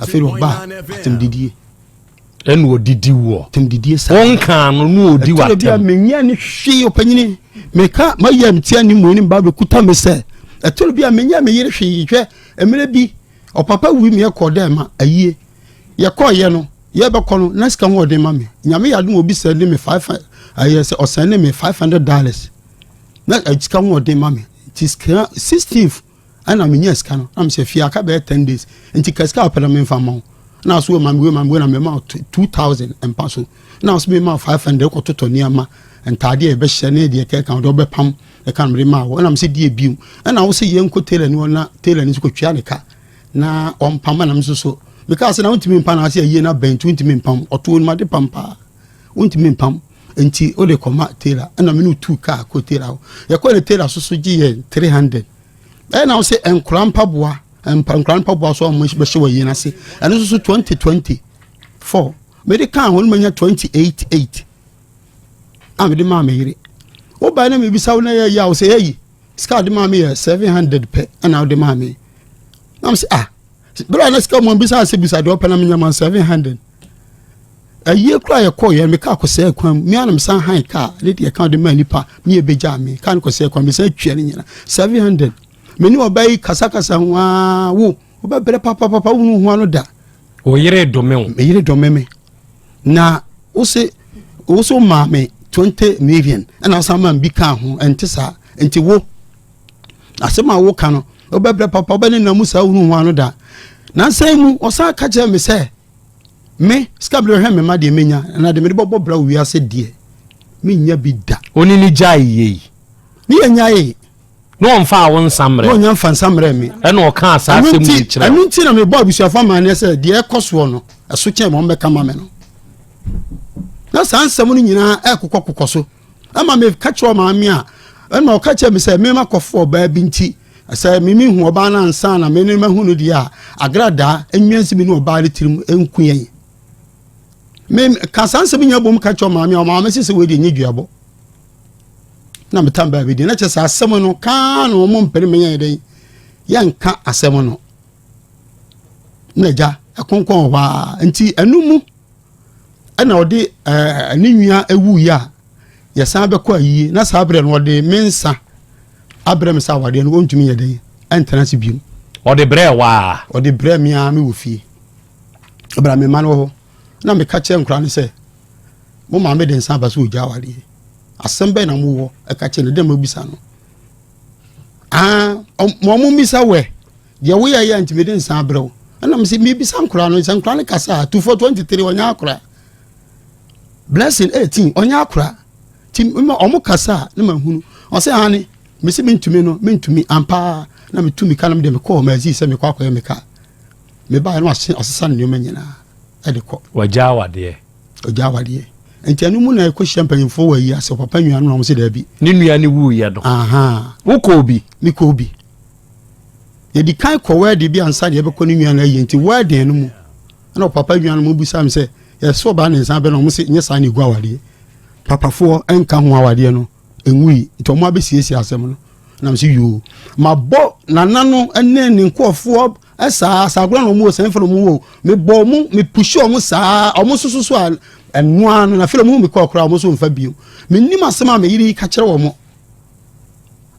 afei deɛ ɔbaa atemdidie Ɛna ɔdidi woɔ. Tɛm didie saa. Wɔn kaa no no ɔdi wa tɛm. Ɛtɔ bi a menyia ne hwee ɔpanyini. Meka ma yɛ mtia ne mu ne mba bɛkuta me sɛ. Ɛtɔ bi a menyia me yere hwee hwɛ. Mmerɛ bi ɔpapa wui me yɛkɔ dɛ ma ayie. Yɛkɔ yɛ no yɛbɛkɔ no na sika ho ɔde ma me. Nyame yɛ adom obi sɛ ne me five ayɛ sɛ ɔsɛn ne me five hundred dollars. Na sika ho ɔde ma me. Ti sika sixteenth. ɛna menya sika no na mesɛ fie aka bɛyɛ ten days nti ka sika wopɛ no memfa mma wo na so ma mewe ma mewe na mema two thousand mpa so na so mema five hundred kɔtotɔ nneɛma ntaadeɛ yɛbɛhyɛ ne deɛ kɛka wode wobɛpam ɛka mede ma wo ɛna mesɛ deɛ bio ɛna wo sɛ yɛnkɔ tailor ni hɔ na tailor ni so kɔtwea ne ka na ɔmpam ɛna me so so mekaa sɛ na wontumi mpa na ase ayie no abɛn nti wontumi mpam ɔtoo nimade pam paa wontumi mpam nti wode kɔma tailor ɛna mene tu kaa kɔ tailor hɔ yɛkɔ ne tailor so so gye yɛn 300 ɛyɛ na wo sɛ nkora mpaboa nkora mpaboa so a wɔbɛhyɛ wɔ yɛn ase ɛno nso so 2020 4 mede kaa ho no manya 28 8 a mede maa me yere wobae na mebisa wo na yɛyi a wo sɛ yɛyi sika de maa me yɛ 700 pɛ ɛna wode maa me na m sɛ ah berɛ a na sika mu bisa sɛ bisa deɛ ɔpɛ na menyama 700 ayie kura yɛ kɔɔ yɛn mi kaa kɔsɛɛ kwan mu mi ara na mi san han kaa ne deɛ kan de maa nipa mi yɛ bɛgya mi kaa ne kɔsɛɛ kwan mi san twia ne nyina seven hundred mi ne ɔbaa yi kasakasa ho aa wo ɔbɛ brɛ papapapa wunu ho ano da. o yere dome o. mi yere dome mi na o se o so maa mi twenty million ɛna asan maa mi bi kaa ho ɛnte saa nti wo. Asɛm a woka no, wobɛbrɛ papa, wobɛnenam mu saa wohu ho ano da. Nansa mu, ɔsan ka kyerɛɛ me sɛ, me, sika bere hwɛ me mma deɛ menya, na de mede bɔbɔ bra wiase deɛ, menya bi da. Oni ne gyae yei. Ne yɛ nyae. Ne ɔmfa awo nsa mmerɛ. Ne ɔnya mfa nsa mmerɛ me. Ɛna ɔka saa asɛm mu de kyerɛ. Ɛno nti na mebɔ abusuafo amaneɛ sɛ deɛ ɛkɔ soɔ no, ɛso kyɛn ma ɔmbɛka ma me no. Na saa nsɛm no nyinaa ɛkokɔ kokɔ so. ɛma meka kyerɛ maame a ɛna ɔka kyerɛ me sɛ mema kɔfo ɔbaa bi nti sɛ mimi hu ɔbaa no ansa na me ne no mahu no deɛ a agradaa nnwa nsi me ne ɔbaa no tirim nku yɛn meka saa nsɛm nyina bom ka kyerɛ maame a ɔmaa me se sɛ wɔdi nyɛ duabɔ na metam baa bi deɛ na kyɛ sɛ asɛm no kaa na ɔmo mpene menyɛ dɛn yɛnka asɛm no na agya ɛkonkɔn hɔ a nti ɛno mu ɛna ɔde ɛɛ ne nua ewuiɛ a yɛsan bɛkɔ ayie na saa berɛ no ɔde me nsa abrɛ me sɛ awadeɛ no ɔntumi yɛ dɛn ɛntena ase biom ɔde brɛ waa ɔde brɛ me a mewɔ fie ɛbra me ma no wɔ hɔ na meka kyerɛ nkora no sɛ mo maame de nsa aba sɛ ɔgya awadeɛ asɛm bɛn na mowɔ ɛka kyerɛ no dɛ mabisa no ah, mo mo mmisa wɛ Deɛ woyɛ yɛ nti mede nsa abrɛ wo. Ɛna me sɛ mebisa nkora no sɛ nkora no kasa a tufo 23 ɔnyɛ akora blessing 18 ɔnyɛ akora ti ma ɔmo kasa a ne ma hunu ɔsɛ hane me sɛ mentumi no mentumi ampa na metu mika no mede mekɔɔ ma azi sɛ mekɔ akɔyɛ meka mebaeɛ no asesa ne nneɛma nyinaa ɛde kɔ ɔgyaa wadeɛ ɔgyaa wadeɛ nti ɛno mu na ɛkɔhyia mpanyimfoɔ wɔ ayi ase papa nnuano na ɔmo sɛ daabi ne nua ne wuiɛ no wokɔɔ bi mekɔɔ bi yɛdi kan kɔ wɛɛden bi ansa na yɛbɛkɔ ne nua no ayie nti wɛɛden no mu ɛna ɔpapa nua no mu bisa me sɛ yɛsɛ ɔbaa ne nsa bɛ na ɔmo sɛ nyɛ saa na egu awadeɛ papafoɔ ɛnka ho awadeɛ no ɛnwui nti ɔmo abɛsiesie asɛm no nam sɛ yoo mabɔ nana no ne ne nkoɔfoɔ saa saa agorɔ na ɔmo wɔ sɛn fɛ na ɔmo wɔ mebɔ ɔmo mepusi ɔmo saa ɔmo soso so a ɛnoa no na fɛ ɔmo hu me kɔɔ koraa ɔmo so mfa bio menim asɛm a meyere yi ka kyerɛ ɔmo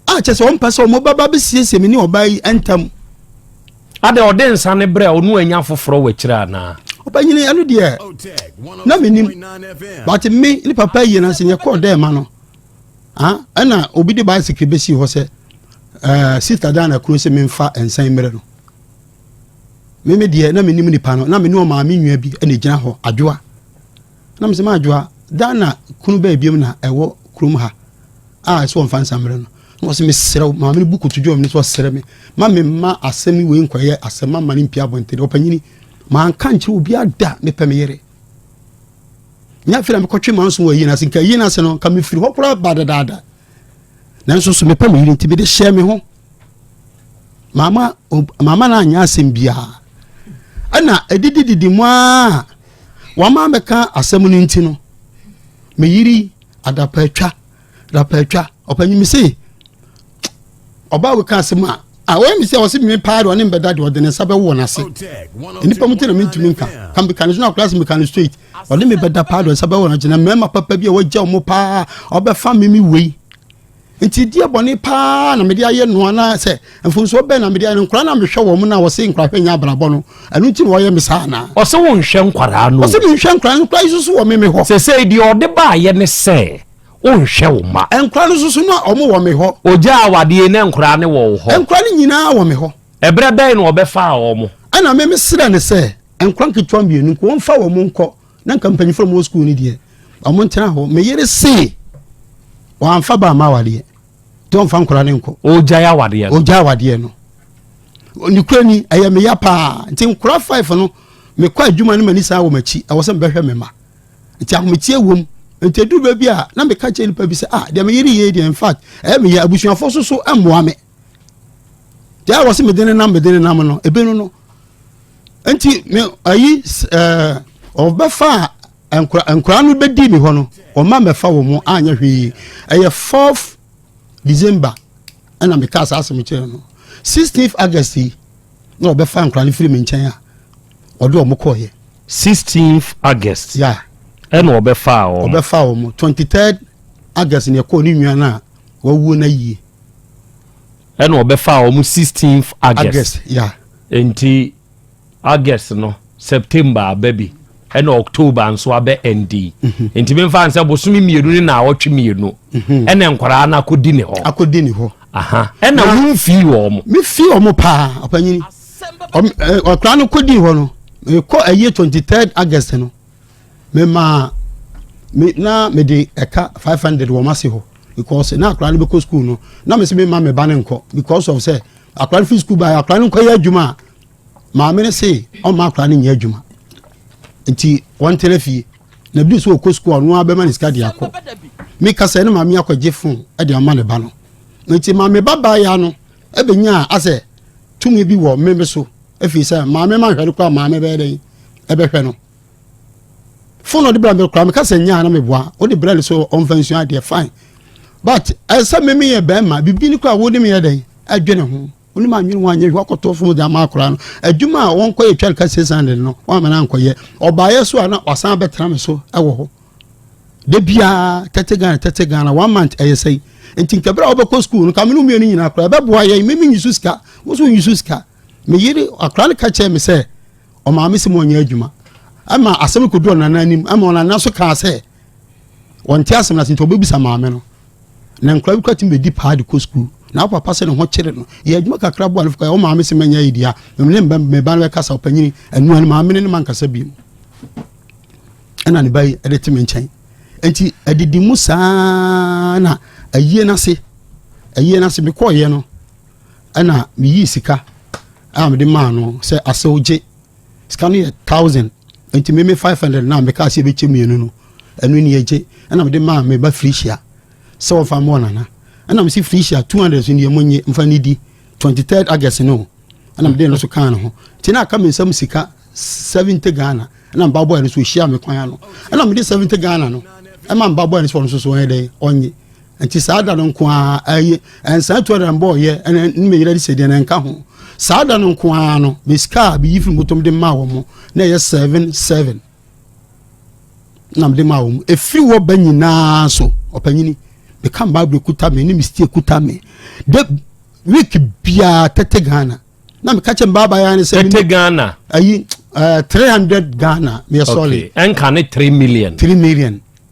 a kyɛ sɛ ɔmpɛ sɛ wɔbɛba bɛsiesie me ne ɔbaa yi ntam adɛ ɔde nsa ne berɛ a ɔno anya foforɔ wɔ akyirɛ anaa ɔbɛnyini ɛno deɛ na menim but me ne papa yie no sɛ yɛkɔɔ dɛ ma no ɛna obi de bicycle bɛsii hɔ sɛ eh, sister dan na kuro sɛ memfa nsan mmerɛ no meme deɛ na menim nipa no na mene ɔmaame nwa bi ɛna ɛgyina hɔ adwoa Na mesɛ m'adwoa, dan na kunu bɛɛ biom na ɛwɔ kurom ha a ɛsɛ wɔmfa nsa mmerɛ no. Na wɔsɛ mesrɛ wo, maame no bu koto dwom ne sɛ ɔsrɛ me, ma me mma asɛm yi wei nkɔyɛ asɛm, ma mma no mpia abɔntene. Ɔpanyini, manka nkyerɛ obi ada, mepɛ me yere. Nyɛ afei na mekɔtwe manso wɔ ayie no ase, nka ayie no ase no, nka mefiri hɔ koraa ba dadaada. Nanso so mepɛ me yere nti mede hyɛɛ me ho. Mama, mama no anyɛ asɛm biara. Ɛna ɛdidididi mu a Wɔama mɛka asɛm no nti no, me yiri adapaatwa, adapaatwa, ɔpanyin mi se, ɔbaa wei ka asɛm a, a wɔyɛ mi sɛ ɔsi mi paa de ɔne mbɛda de ɔde ne nsa bɛwɔ n'ase. Nnipa mu ti na mi ntumi nka, ka mi ka ne so na akora se mi ka ne straight, ɔne mi bɛda paa de ɔnsa bɛwɔ n'ase na mmarima papa bi a wɔagya wɔn paa ɔbɛfa mi mi wei. Nti deɛ bɔne paa na mede ayɛ no anaa sɛ mfomsoɔ bɛn na mede ayɛ no? Nkwadaa na mehwɛ wɔn na wɔse nkorahwɛ nyɛ abrabɔ no, ɛno nti na wɔyɛ me saa anaa? Ɔse wo nhwɛ nkwadaa no o. Ɔse me nhwɛ nkwadaa no, nkwadaa yi nso so wɔ me me hɔ. Sesei deɛ ɔde baayɛ ne sɛ wo nhwɛ wo mma. Nkwadaa no nso so na wɔn wɔ me hɔ. Ogya awadeɛ yi na nkwadaa no wɔ wo hɔ. Nkwadaa no nyinaa wɔ me hɔ. Ɛberɛ bɛn na ɔbɛfaa wɔn? Ɛna me mesrɛ no sɛ nkwadaa nketewa mmienu nko wɔmfa wɔn nkɔ na nka mpanyinfoɔ mu wɔ sukuu no deɛ wɔn ntena hɔ me yere se wɔamfa ba ama awadeɛ nti wɔmfa nkora ne nkɔ ɔgyae awadeɛ no ɔgyae awadeɛ no ne kura ni ɛyɛ me ya paa nti nkora five no mekɔ adwuma no m'ani saa wɔ m'akyi ɛwɔ sɛ mebɛhwɛ me ma nti ahometie wom nti ɛduru baabi a na meka kyerɛ nipa bi sɛ ah deɛ me yere yie deɛ infact ɛyɛ me yɛ abusuafoɔ so so mmoa me deɛ wɔ se mede ne nam mede ne nam no ɛbɛnu no nti me ayi ɛɛ ɔbɛfa nkura nkura no bɛ di mi hɔ no ɔma mɛfa wɔn mo anyɛ hwee ɛyɛ fourth december ɛna mi ka saa asɛm kyerɛ no sixteenth august yi na ɔbɛfa nkura no firi mi nkyɛn a ɔde wɔn kɔɔ yɛ. sixteenth august. ya ɛna ɔbɛfa wɔn. ɔbɛfa wɔn twenty third august na ɛkɔɔ ne nua no a wawuo no ayie. ɛna ɔbɛfaa wɔn sixteenth august august ya nti august no september aba bi ɛna october nso abɛ ɛndi mhm. nti mi nfa nsɛ bosomi mmienu ne na awɔtwe mmienu mhm. ɛna nkwaraa no akɔdi ne hɔ akɔdi ne hɔ ɛna wɔn fi wɔn. mi fi wɔn paa ɔpanyini ɔkura no kɔdi hɔ no mekɔ ɛyɛ twenty third august no. memaa me na mede ɛka five hundred wɔ m'ase hɔ because na akwadaa no bɛkɔ sukuu no na mesi mema me ba no nkɔ because of sɛ akwadaa no fi sukuu ba akwadaa no nkɔyɛ adwuma a maame no se ɔmma akwadaa no nyɛ adwuma nti wɔntena fie na bi so ɔkɔ sukuu ɔno abɛma ne sika de akɔ meka sɛ ne maame akɔgye fon de ama ne ba no nti maame ba baeɛ no ɛbɛnya asɛ tumi bi wɔ mmeme so ɛfiri sɛ maame ma nhwɛre kɔ a maame bɛyɛ dɛn ɛbɛhwɛ no fone ɔde bra mi kora mi kasa nyaa na mi bua ɔde bra ni so ɔnfa nsua adeɛ fine but ɛsɛ eh, mimi yɛ bɛrima bibi ni kora wɔn ni mi yɛ dɛ ɛdwe ne ho wɔn ni mi anwene wɔn anyɛ hwɛ ɔkɔtɔ fom de ama akora no adwuma a wɔn kɔ yɛ twɛn kasa san de no wɔn amena nkɔ yɛ ɔbaayɛ so a na wasan abɛtena mi so ɛwɔ hɔ de biara tɛtɛ ghana tɛtɛ ghana one month ɛyɛ sɛyi nti nkɛbɛrɛ a wɔbɛkɔ sukuu no kaminu mmienu nyinaa kora ɛbɛboa yɛ mimi nyi so sika wɔn so nyi so sika Me yere, akwadaa no ka kyerɛɛ me sɛ, ɔmaame sɛ mɔnyɛ adwuma. Ɛma asɛm no kɔdu ɔnana anim, ɛma ɔnana nso kaa sɛ, wɔnte asɛm no ase nti ɔbɛbisa maame no. Na nkwadaa bi kora tumi bɛdi paa de kɔ sukuu. Na wo papa sɛ ne ho kyere no. Yɛ adwuma kakra boa no fo kɔ, wo maame sɛ mɛnyɛ yɛdi a, mene me ba no bɛkasa, ɔpanyini, anua no maame ne ne mankasa bi mu. Ɛna ne ba yi de te me nkyɛn. Nti adidi mu saa na ayie no ase, ayie no ase mekɔɔyɛ no, ɛna meyii sika a mede maa no sɛ asew gye sika no yɛ thousand nti meme five hundred na meka sɛ ɛbɛkyɛ mmienu no ɛno ni ɛgye ɛna mede maa meba firihyia sɛ wɔfa mmɔ nana ɛna mese firihyia two hundred so neɛ mo nye mfa ne di twenty third august no ɛna mede no so kaa no ho nti na aka me nsɛm sika seventy ghana ɛna mba bɔɛ no so ɔhyia me kwan ano ɛna mede seventy ghana no ɛma mba bɔɛ no so ɔno so so ɔyɛ dɛn ɔnye nti saa da no nko ara ɛyɛ ɛnsan tu ara mbɔ ɔyɛ ɛna ne mɛ yɛrɛ de sɛ deɛ na nka ho saa da no nko ara no bɛ sika a bɛ yi firi motom de maa wɔn na ɛyɛ seven seven nam de maa wɔn efiri wɔ bɛ nyinaa so ɔpanyini bɛ ka mbaa bɛ kuta mi ne mi stie kuta mi de week biara tete ghana na mi ka kyɛ mbaa baa ya ne sɛ tete ghana ayi ɛɛ eh, three hundred ghana mi yɛ sɔɔli ɛnka ne three million three million.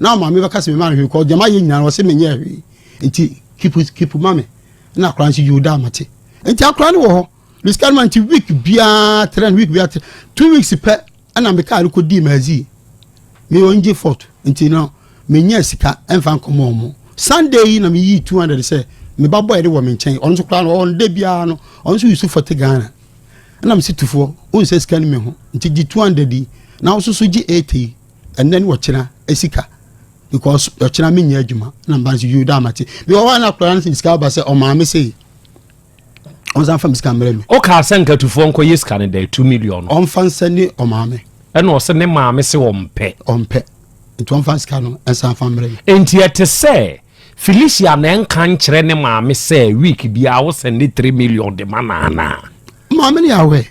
na ɔma me bɛka sɛ mema no hwee kɔ deɛ mayɛ nyinaa ɔse menyɛɛ hwee nti kipu kipu ma me na akora nso yoo daa mate nti akora no wɔ hɔ me sika no ma nti week biara trɛn week biara trɛn two weeks pɛ ɛna me kaa no kɔ dii mazi me ɔngye fort nti no menyɛ sika ɛmfa nkɔmɔ ɔmo sunday yi na meyi two hundred sɛ meba bɔ ɛde wɔ me nkyɛn ɔno nso koraa no ɔnda biara no ɔno nso yusu fɔte ghana ɛna me si tufoɔ wonsɛ sika no me ho nti gye two hundred yi na wososo gye eighty yi Ɛnɛ ne ɔkyena sika because ɔkyena me nyɛ adwuma na mba nso yiw daa ma te bi wɔ hɔ a na akora no sɛ sika aba sɛ ɔmaa me sei ɔnsan fa me sika mmerɛ me ɔkaa sɛ nkatufoɔ nkɔ yɛ sika no dɛ 2 million ɔmfa nsɛ ne ɔmaa me ɛna ɔsɛ ne maa me se ɔmpɛ ɔmpɛ nti ɔmfa sika no nsan fa mmerɛ me enti ɛte sɛ Felicia na ɛnka nkyerɛ ne maame sɛ week biara wosɛn ne 3 million de ma naanaa maame ne yɛawɛ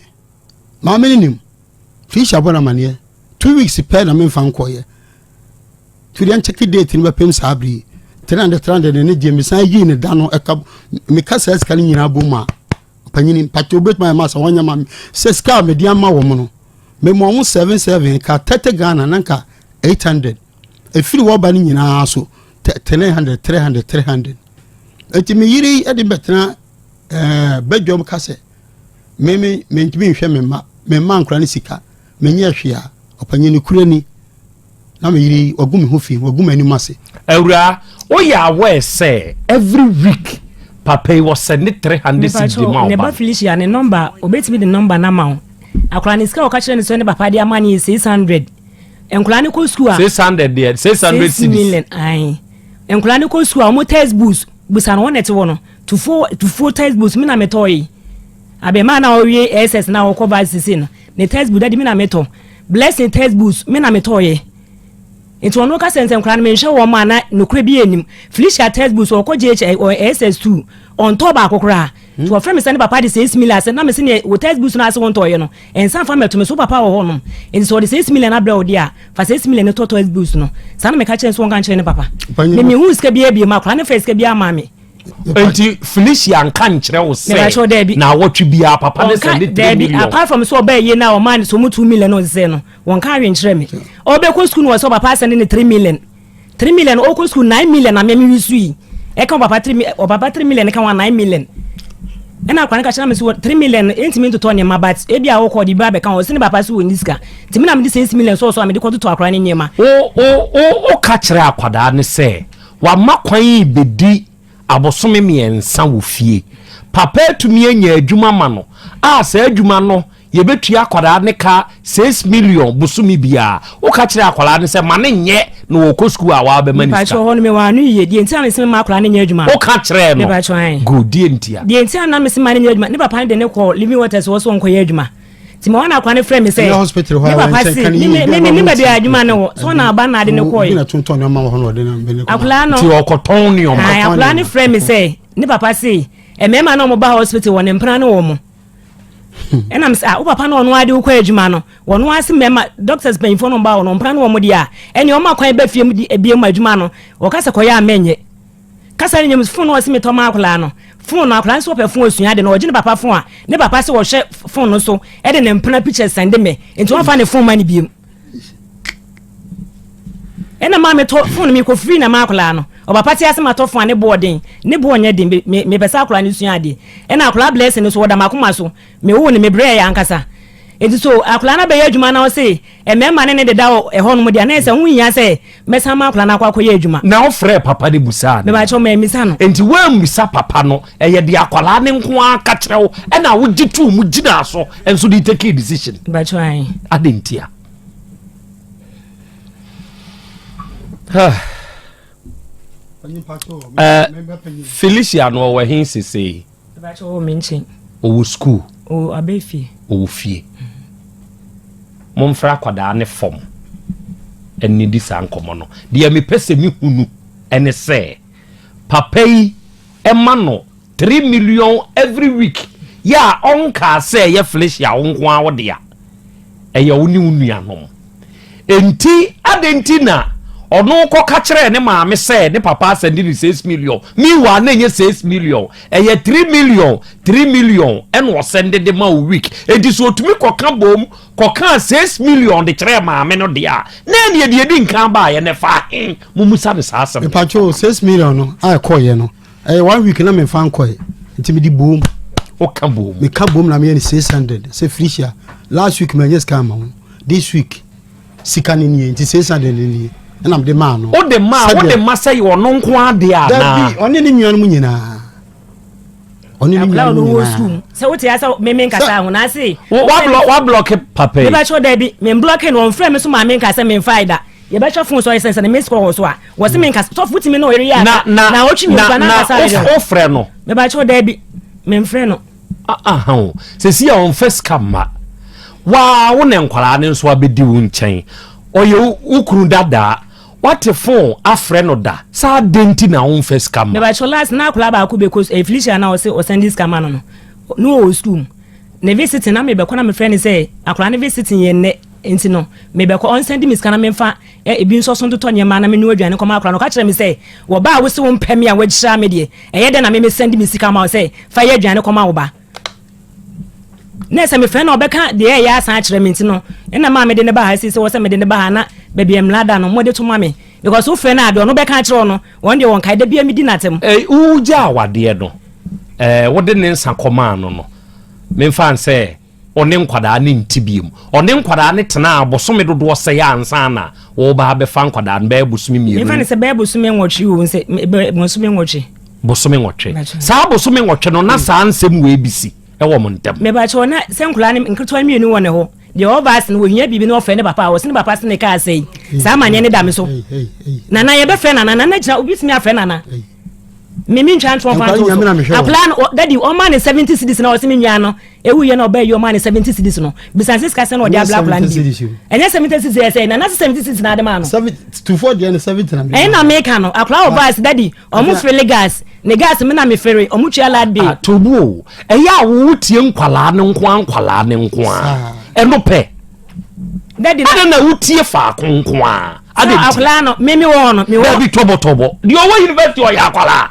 maame ne nim Tricia bɔ no amanneɛ, Two weeks pɛ na memfa nkɔeɛ. To deɛ nkyɛke date no bɛpem saa bere yi. 300 300 na ne gye mesan yii ne da no ɛka meka saa sika no nyinaa bom a ɔpanyini mpatɛ wobɛtumi ayɛ ma sa wɔnyɛ ma sɛ sika a mede ama wɔ mo no mema ɔmo 77 ka 30 ghana na nka 800 ɛfiri wɔba no nyinaa so 300 300 300 ɛnti meyere de bɛtena eh, badwam ka sɛ Me me mentumi nhwɛ me mma. Me mma nkora ne sika. Menyɛ hwee a. Ɔpanyin no kura ni. Na me yere yi, wagu me ho fi. Wagu m'anim ase. Awuraa, woyɛ aware sɛ every week papa yi ɔsɛ ne three hundred cedis de ma wo ba no? Mepakyɛw, ne ba Felicia, ne nɔmba, obetumi de nɔmba no ama wo. Akora no sika a ɔka kyerɛ no sɛ ne papa de ama no yɛ six hundred. Nkora no kɔ sukuu a. Six hundred deɛ, six hundred cedis. Six million, ayi. Nkora no kɔ sukuu a, wɔn textbooks, busa no wɔn na ɛte hɔ no. Tufoɔ tufoɔ text books me na me tɔɔye Abɛɛmaa na ɔwie SS na ɔkɔ varsity sesei no ne text book daddy me na me tɔ Blessing text books me na me tɔɔye Nti ɔno ka sɛ nsɛ nkwadaa no me nhwɛ wɔn a na nokorɛ bi anim Felicia text books ɔkɔ GH ɔ SS two ɔntɔɔ baako koraa Nti ɔfrɛ me sɛ ne papa de seis million asɛ na me se neɛ wo text books no ase wo ntɔɔye no nsa mfa mmɛto me so wo papa wɔ hɔ nom nti sɛ ɔde seis million abrɛ wo deɛ a fa seis million no tɔ text books no saa na meka kyerɛ no sɛ ɔnka nkyerɛ ne papa Me me huu sika biara biem akwadaa no faa sika biara maa me Nti Felicia nka nkyerɛ wo sɛ na awɔtwe biara papa ne sɛ ne three million. Apart from sɛ ɔbɛyɛ yie na ɔmaa ne sɛ ɔmo two million na ɔde sɛ no wɔnka ahwɛ nkyerɛ me. Ɔbɛkɔ sukuu na wɔsɛ papa asɛnde ne three million. Three million ɔkɔ sukuu nine million na mea me wi so yi. Ɛka papa three million ɔpapa three million ka ho a nine million. Ɛna akora no ka kyerɛ me sɛ three million ɛntumi ntotɔ nneɛma but ebi a ɔkɔ ɔde bi abɛka ho ɔsɛ ne papa so wɔ ni sika. Nti me na mede six million sɔɔ so a mede kɔtotɔ akora ne nneɛma. Wo wo wo woka kyerɛ akwadaa no sɛ Wama kwan rebedi abosome mmiɛnsa wɔ fie. Papa atumi anya adwuma ma no a saa adwuma no yɛbɛtua akwadaa ne ka six million bosome biara. Woka kyerɛ akwadaa no sɛ ma no nyɛ na ɔkɔ sukuu a wabɛma no sika. Mepatwɔ hɔ no mewɔ ano yie. Deɛ nti a mese mema akwadaa no nyɛ adwuma no. Woka kyerɛɛ no. Mepatwɔ ae. Good, deɛ ntia? Deɛ nti a na mese ma no nyɛ adwuma, ne papa no de no kɔɔ Living Waters hɔ sɛ ɔnkɔyɛ adwuma. nti ma ɔna akwa ne frɛ me sɛ ne papa se ne baabi a adwuma no wɔ so ɔna aba na ade no kɔɔye akwalaa no akwalaa no frɛ me sɛ ne papa se mmarima na ɔmo ba hospital wɔ ne mpena ne wɔ mo ɛnam sɛ wo papa na ɔno ade wokɔ adwuma no wɔno ase mmarima doctors mpanyinfoɔ no ba wɔ no mpena ne wɔ mo deɛ a ɛne ɔmo akwan bɛ fie mu di ebie mu adwuma no wɔka sɛ kɔyɛ a mɛnyɛ kasa no nyam fon no ɔse metɔ ma akwadaa no fon no akwadaa no sɛ ɔpɛ fon osua de no ɔgye ne papa fon a ne papa sɛ ɔhwɛ fon no so ɛde ne mpena pictures sɛnde mɛ nti wɔmfa ne fon ma ne biem ɛna maa metɔ fon no mekɔ firi na ma akwadaa no ɔpapa te ase matɔ fon a ne boɔ den ne boɔ nyɛ den mepɛ sɛ akwadaa no sua adeɛ ɛna akwadaa blessing no so ɔda makoma so Me woo no me brɛɛ ankasa nti so akwadaa no abɛyɛ adwuma na ɔse mmarima ne ne deda wɔ ɛhɔ nom deɛ na ɛsɛ ho hia sɛ mɛsan ma akwadaa no akɔ akɔyɛ adwuma. Na ɔfrɛɛ papa no busaa no. Mebakyɛw mammisa no. Nti woammisa papa no ɛyɛ deɛ akwadaa no nko ara ka kyerɛ wo ɛna wogye too mu gyinaa so nso de tekee decision. Mebakyɛw ae. Adɛn ntia? Felicia no ɔwɔ he sesei? Mepakyɛ ɔwɔ me nkyen. Ɔwɔ sukuu. Ɔwɔ abɛ fie. Ɔwɔ fie. Monfrɛ akwadaa no fam nnidi saa nkɔmmɔ no. Deɛ mepɛ sɛ mehunu ne sɛ papa yi ma no three million every week yɛ a ɔnkaa sɛ ɛyɛ Felicia wo nko ara wo dea. Ɛyɛ wo ne wo nuanom. Enti, adɛn nti na ɔno kɔka kyerɛɛ ne maame sɛ ne papa asɛnde ne six million? Meanwhile, na ɛnyɛ six million, ɛyɛ three million, three million ɛna ɔsɛnde de ma wo week. Enti sɛ ɔtumi kɔka bom kɔkaa six million de kyerɛɛ maame no deɛ a, na ɛneɛ deɛ ɛdi nkan baeɛ no ɛfaa he? Mommusa no saa asɛm no. Mepatwo six million no a ɛkɔeɛ no, ɛyɛ one week na mefa nkɔe nti mede boom woka boom meka boom na meyɛ ne 600 sɛ felicia last week manyɛ sika ama wo this week sika no nie nti 600 no nie ɛna mede maa no wode ma wode ma sɛ yɛ ɔno nko adeɛ anaa dabi ɔne ne nuanom nyinaa ɔne ne nyinaa no wɔ sum sɛ wote asɛ meme nkasa ho na ase wablɔke papa yi mebakyɛ da bi memblɔke no ɔmfrɛ me so maa me nkasa memfae da Yɛbɛhwɛ fon so a yɛsɛn sɛn missed call wɔ so a wɔsi mi nkasa sɔfo wotumi na ɔyere yɛ aka na na ɔtwi mi nkwa na nkasa ayɛ dɛ ɔfrɛ no mɛbakyɛw dɛbi mɛnfrɛ no. Ahan o sisi a ɔnfɛ sika mma waa wo na nkwaraa no nso abɛdi wo nkyɛn ɔyɛ wo kunu dadaa wate fon afrɛ no da saa de nti na ɔnfɛ sika mma. Mɛbakyɛw last na akwaraa baako bɛkɔ eh, Felicia na ɔsi ɔsɛn di sika ma no no na ɔwɔ sukuu mu. Ne visiting na mebɛkɔ na mefrɛ no sɛ akwadaa no visiting yɛ nnɛ nti no mebɛkɔ ɔnsan di me sika na memfa ebi nso so ntotɔ nneɛma na menoa aduane kɔma akwadaa no ɔka kyerɛ me sɛ wɔ ba a wose wo mpɛ me a wagyira me deɛ ɛyɛ dɛ na me mesan di me sika ma wo sɛ fa yɛ aduane kɔma wo ba na sɛ mefrɛ na ɔbɛka deɛ ɛyɛ asan akyerɛ me nti no ɛna maa mede ne ba ha sisi wɔ sɛ mede ne ba ha na baabi mmla da no mode to ma me because wofrɛ no a deɛ ɔno bɛka akyerɛ ɔno wɔn deɛ wɔn kae da bia medi n'atam. Ɛɛ wogya awadeɛ no. eh, wode ne nsa kɔmaa no no memfa n sɛ ɔne nkwadaa ne nti biom ɔne nkwadaa ne tenaa bosome dodoɔ sɛe ansa na wɔba abɛfa nkwadaa no bɛyɛ bosome mmienu mfa ne sɛ bɛyɛ bosome nwɔtwe o sɛ bosome nwɔtwe bosome nwɔtwe saa bosome nwɔtwe no na hmm. saa nsɛm wei bi si ɛwɔ mo ntɛm mebakyɛw na sɛ nkwadaa ne nketewa mmienu wɔ ne hɔ deɛ ɔba ase no wɔhia biribi na ɔfrɛ ne papa a ɔse ne papa se ne kaa sɛi saa amanneɛ ne da me so nana yɛbɛfrɛ nana nana gyina obi tumi afrɛ nana Me me ntwa ntoɔ mfa ntoɔ so. Akwadaa no dadi ɔma ne seventy cedis na ɔsi mi nua no ewu yɛ na ɔbɛ yi ɔma ne seventy cedis no bisan sisi kasa na ɔde abla akwadaa no bi. Ɛnyɛ seventy cedis yɛ sɛ nana se seventy cedis na adema no. Tufoɔ deɛ no seventy na mi. Ɛyɛ na mi ka no akwadaa ɔba asi dadi ɔmo fere gas ne gas mi na mi fere ɔmo tua lad bi. Atobu o ɛyɛ awo tie nkwadaa ne nkoa nkwadaa ne nkoa ɛno pɛ. dadi na. adɛn na wotie faako nko a adɛn nti. akwadaa no mimi wɔ hɔ no mi wɔ. dabi tɔbɔtɔbɔ deɛ ɔwɔ university ɔyɛ akwadaa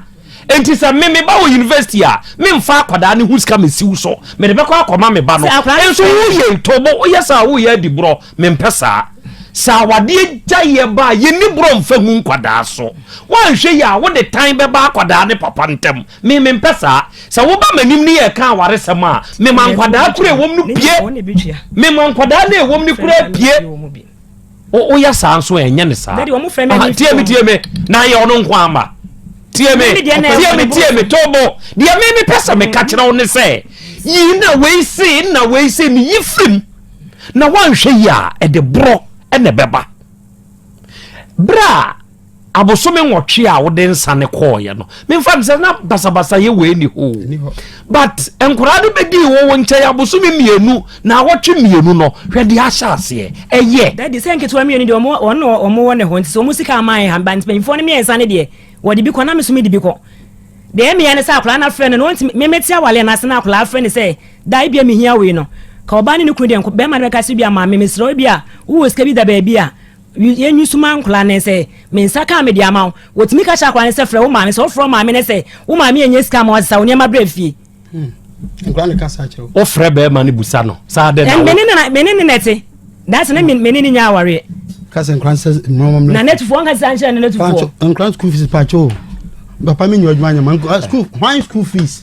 nti sɛ me me ba wɔ university a me nfa akwadaa ne ho sika me siw so me de bɛkɔ akɔma me ba no nso woyɛ ntɔbɔ woyɛ saa woyɛ adi borɔ me mpɛ saa sɛ awadeɛ gya yɛ ba a yɛni borɔ nfa hu nkwadaa so woanhwɛ yi a wode tan bɛba akwadaa ne papa ntam Me, mempɛ saa. Sɛ woba m'anim ne yɛreka awaresɛm a, mema nkwadaa koro a ɛwom no pue. Mema nkwadaa no a ɛwom no koraa pue. O, woyɛ saa nso a, ɛnyɛ ne saa. Ah, tie me, tie me, na yɛ ɔno nko ama. Tie me, tie me, tie me, tobo. Deɛ me mepɛ sɛ meka kyerɛ wo ne sɛ, yi na wei se, na wei se, ne yi firim. Na woanhwɛ yi a, ɛde borɔ na ɛbɛba. Berɛ a abosome nwɔtwe a wode nsa ne kɔɔeɛ no memfa ne sɛ na basabasayɛ wei ni hoo but nkoraa no bɛdii wɔ wo nkyɛn abosome mmienu na awɔtwe mmienu no hwɛ deɛ ahyɛ aseɛ ɛyɛ dadi sɛ nketewa mmienu deɛ wɔn na wɔn wɔ ne ho nti sɛ wɔn sika ama yɛ hamba nti mpanyinfoɔ no mmiɛnsa no deɛ wɔde bi kɔ na mesome de bi kɔ deɛ mmea no sɛ akoraa no afrɛ no no ɔnti memete awale no ase na akoraa afrɛ no sɛ da ebi a mehia wei no ka ɔbaa ne ne kunu deɛ bɛrima no bɛka sɛ bi a maame mesrɛ ebi a wowɔ sika bi da baabi a Yɛn nwi so ma nkwadaa no sɛ, Me nsa kaa mede ama wo. Wɔtumi ka kyerɛ akwadaa no sɛ, Frɛ wo maame. Sɛ wɔfrɛ wo maame no sɛ, Wo maame yɛ nyɛ sika ma wɔsesa wo nneɛma brɛ fie. Hmm. Nkwadaa no kasa kyerɛ wo. Wofrɛ bɛrima no busa no. Saa dɛ na wo. Mene ne na ɛte. Daasɛ ne mene ne nya awareɛ. Kasa nkwadaa no sɛ mmɔmɔ mmerɛ. Na nɛtufoɔ nka sisa nkyerɛ ne nɛtufoɔ. Nkwadaa school fees paakyɛ o. Papa mi nyɛ adwuma nyɛ ma. School, why school fees?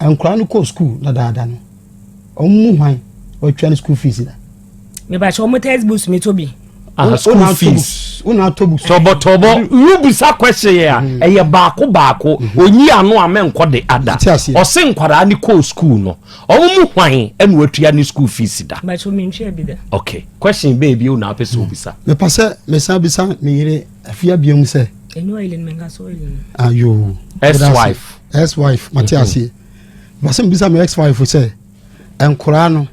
Nkwadaa no kɔ school dadaada no, wɔn mu hwan wɔatwa ne school fees da? Mebakyɛ wɔn text books mi to bi. Ah, school fees. Wona atɔ books. Tɔbɔ tɔbɔ. Yu bisa question yɛ a, mm-hmm. ɛyɛ baako baako. Mm-hmm. Onyi ano a mɛnkɔ de ada. Ɔse nkwadaa ne kɔ school no, wɔn mu hwan ɛna wɔatua ne school fees da? Mebakyɛ wɔn ntwa bi da. Okay, question bɛɛ bi wona apɛ sɛ mm. obisa. Mepa sɛ mesan bisa me yere afia biam sɛ. Enyo ilin menka so ilin. Ayo. Ah, S wife. ex wife mate aseɛ masɛ mbisa me ex wife sɛ nkoraa no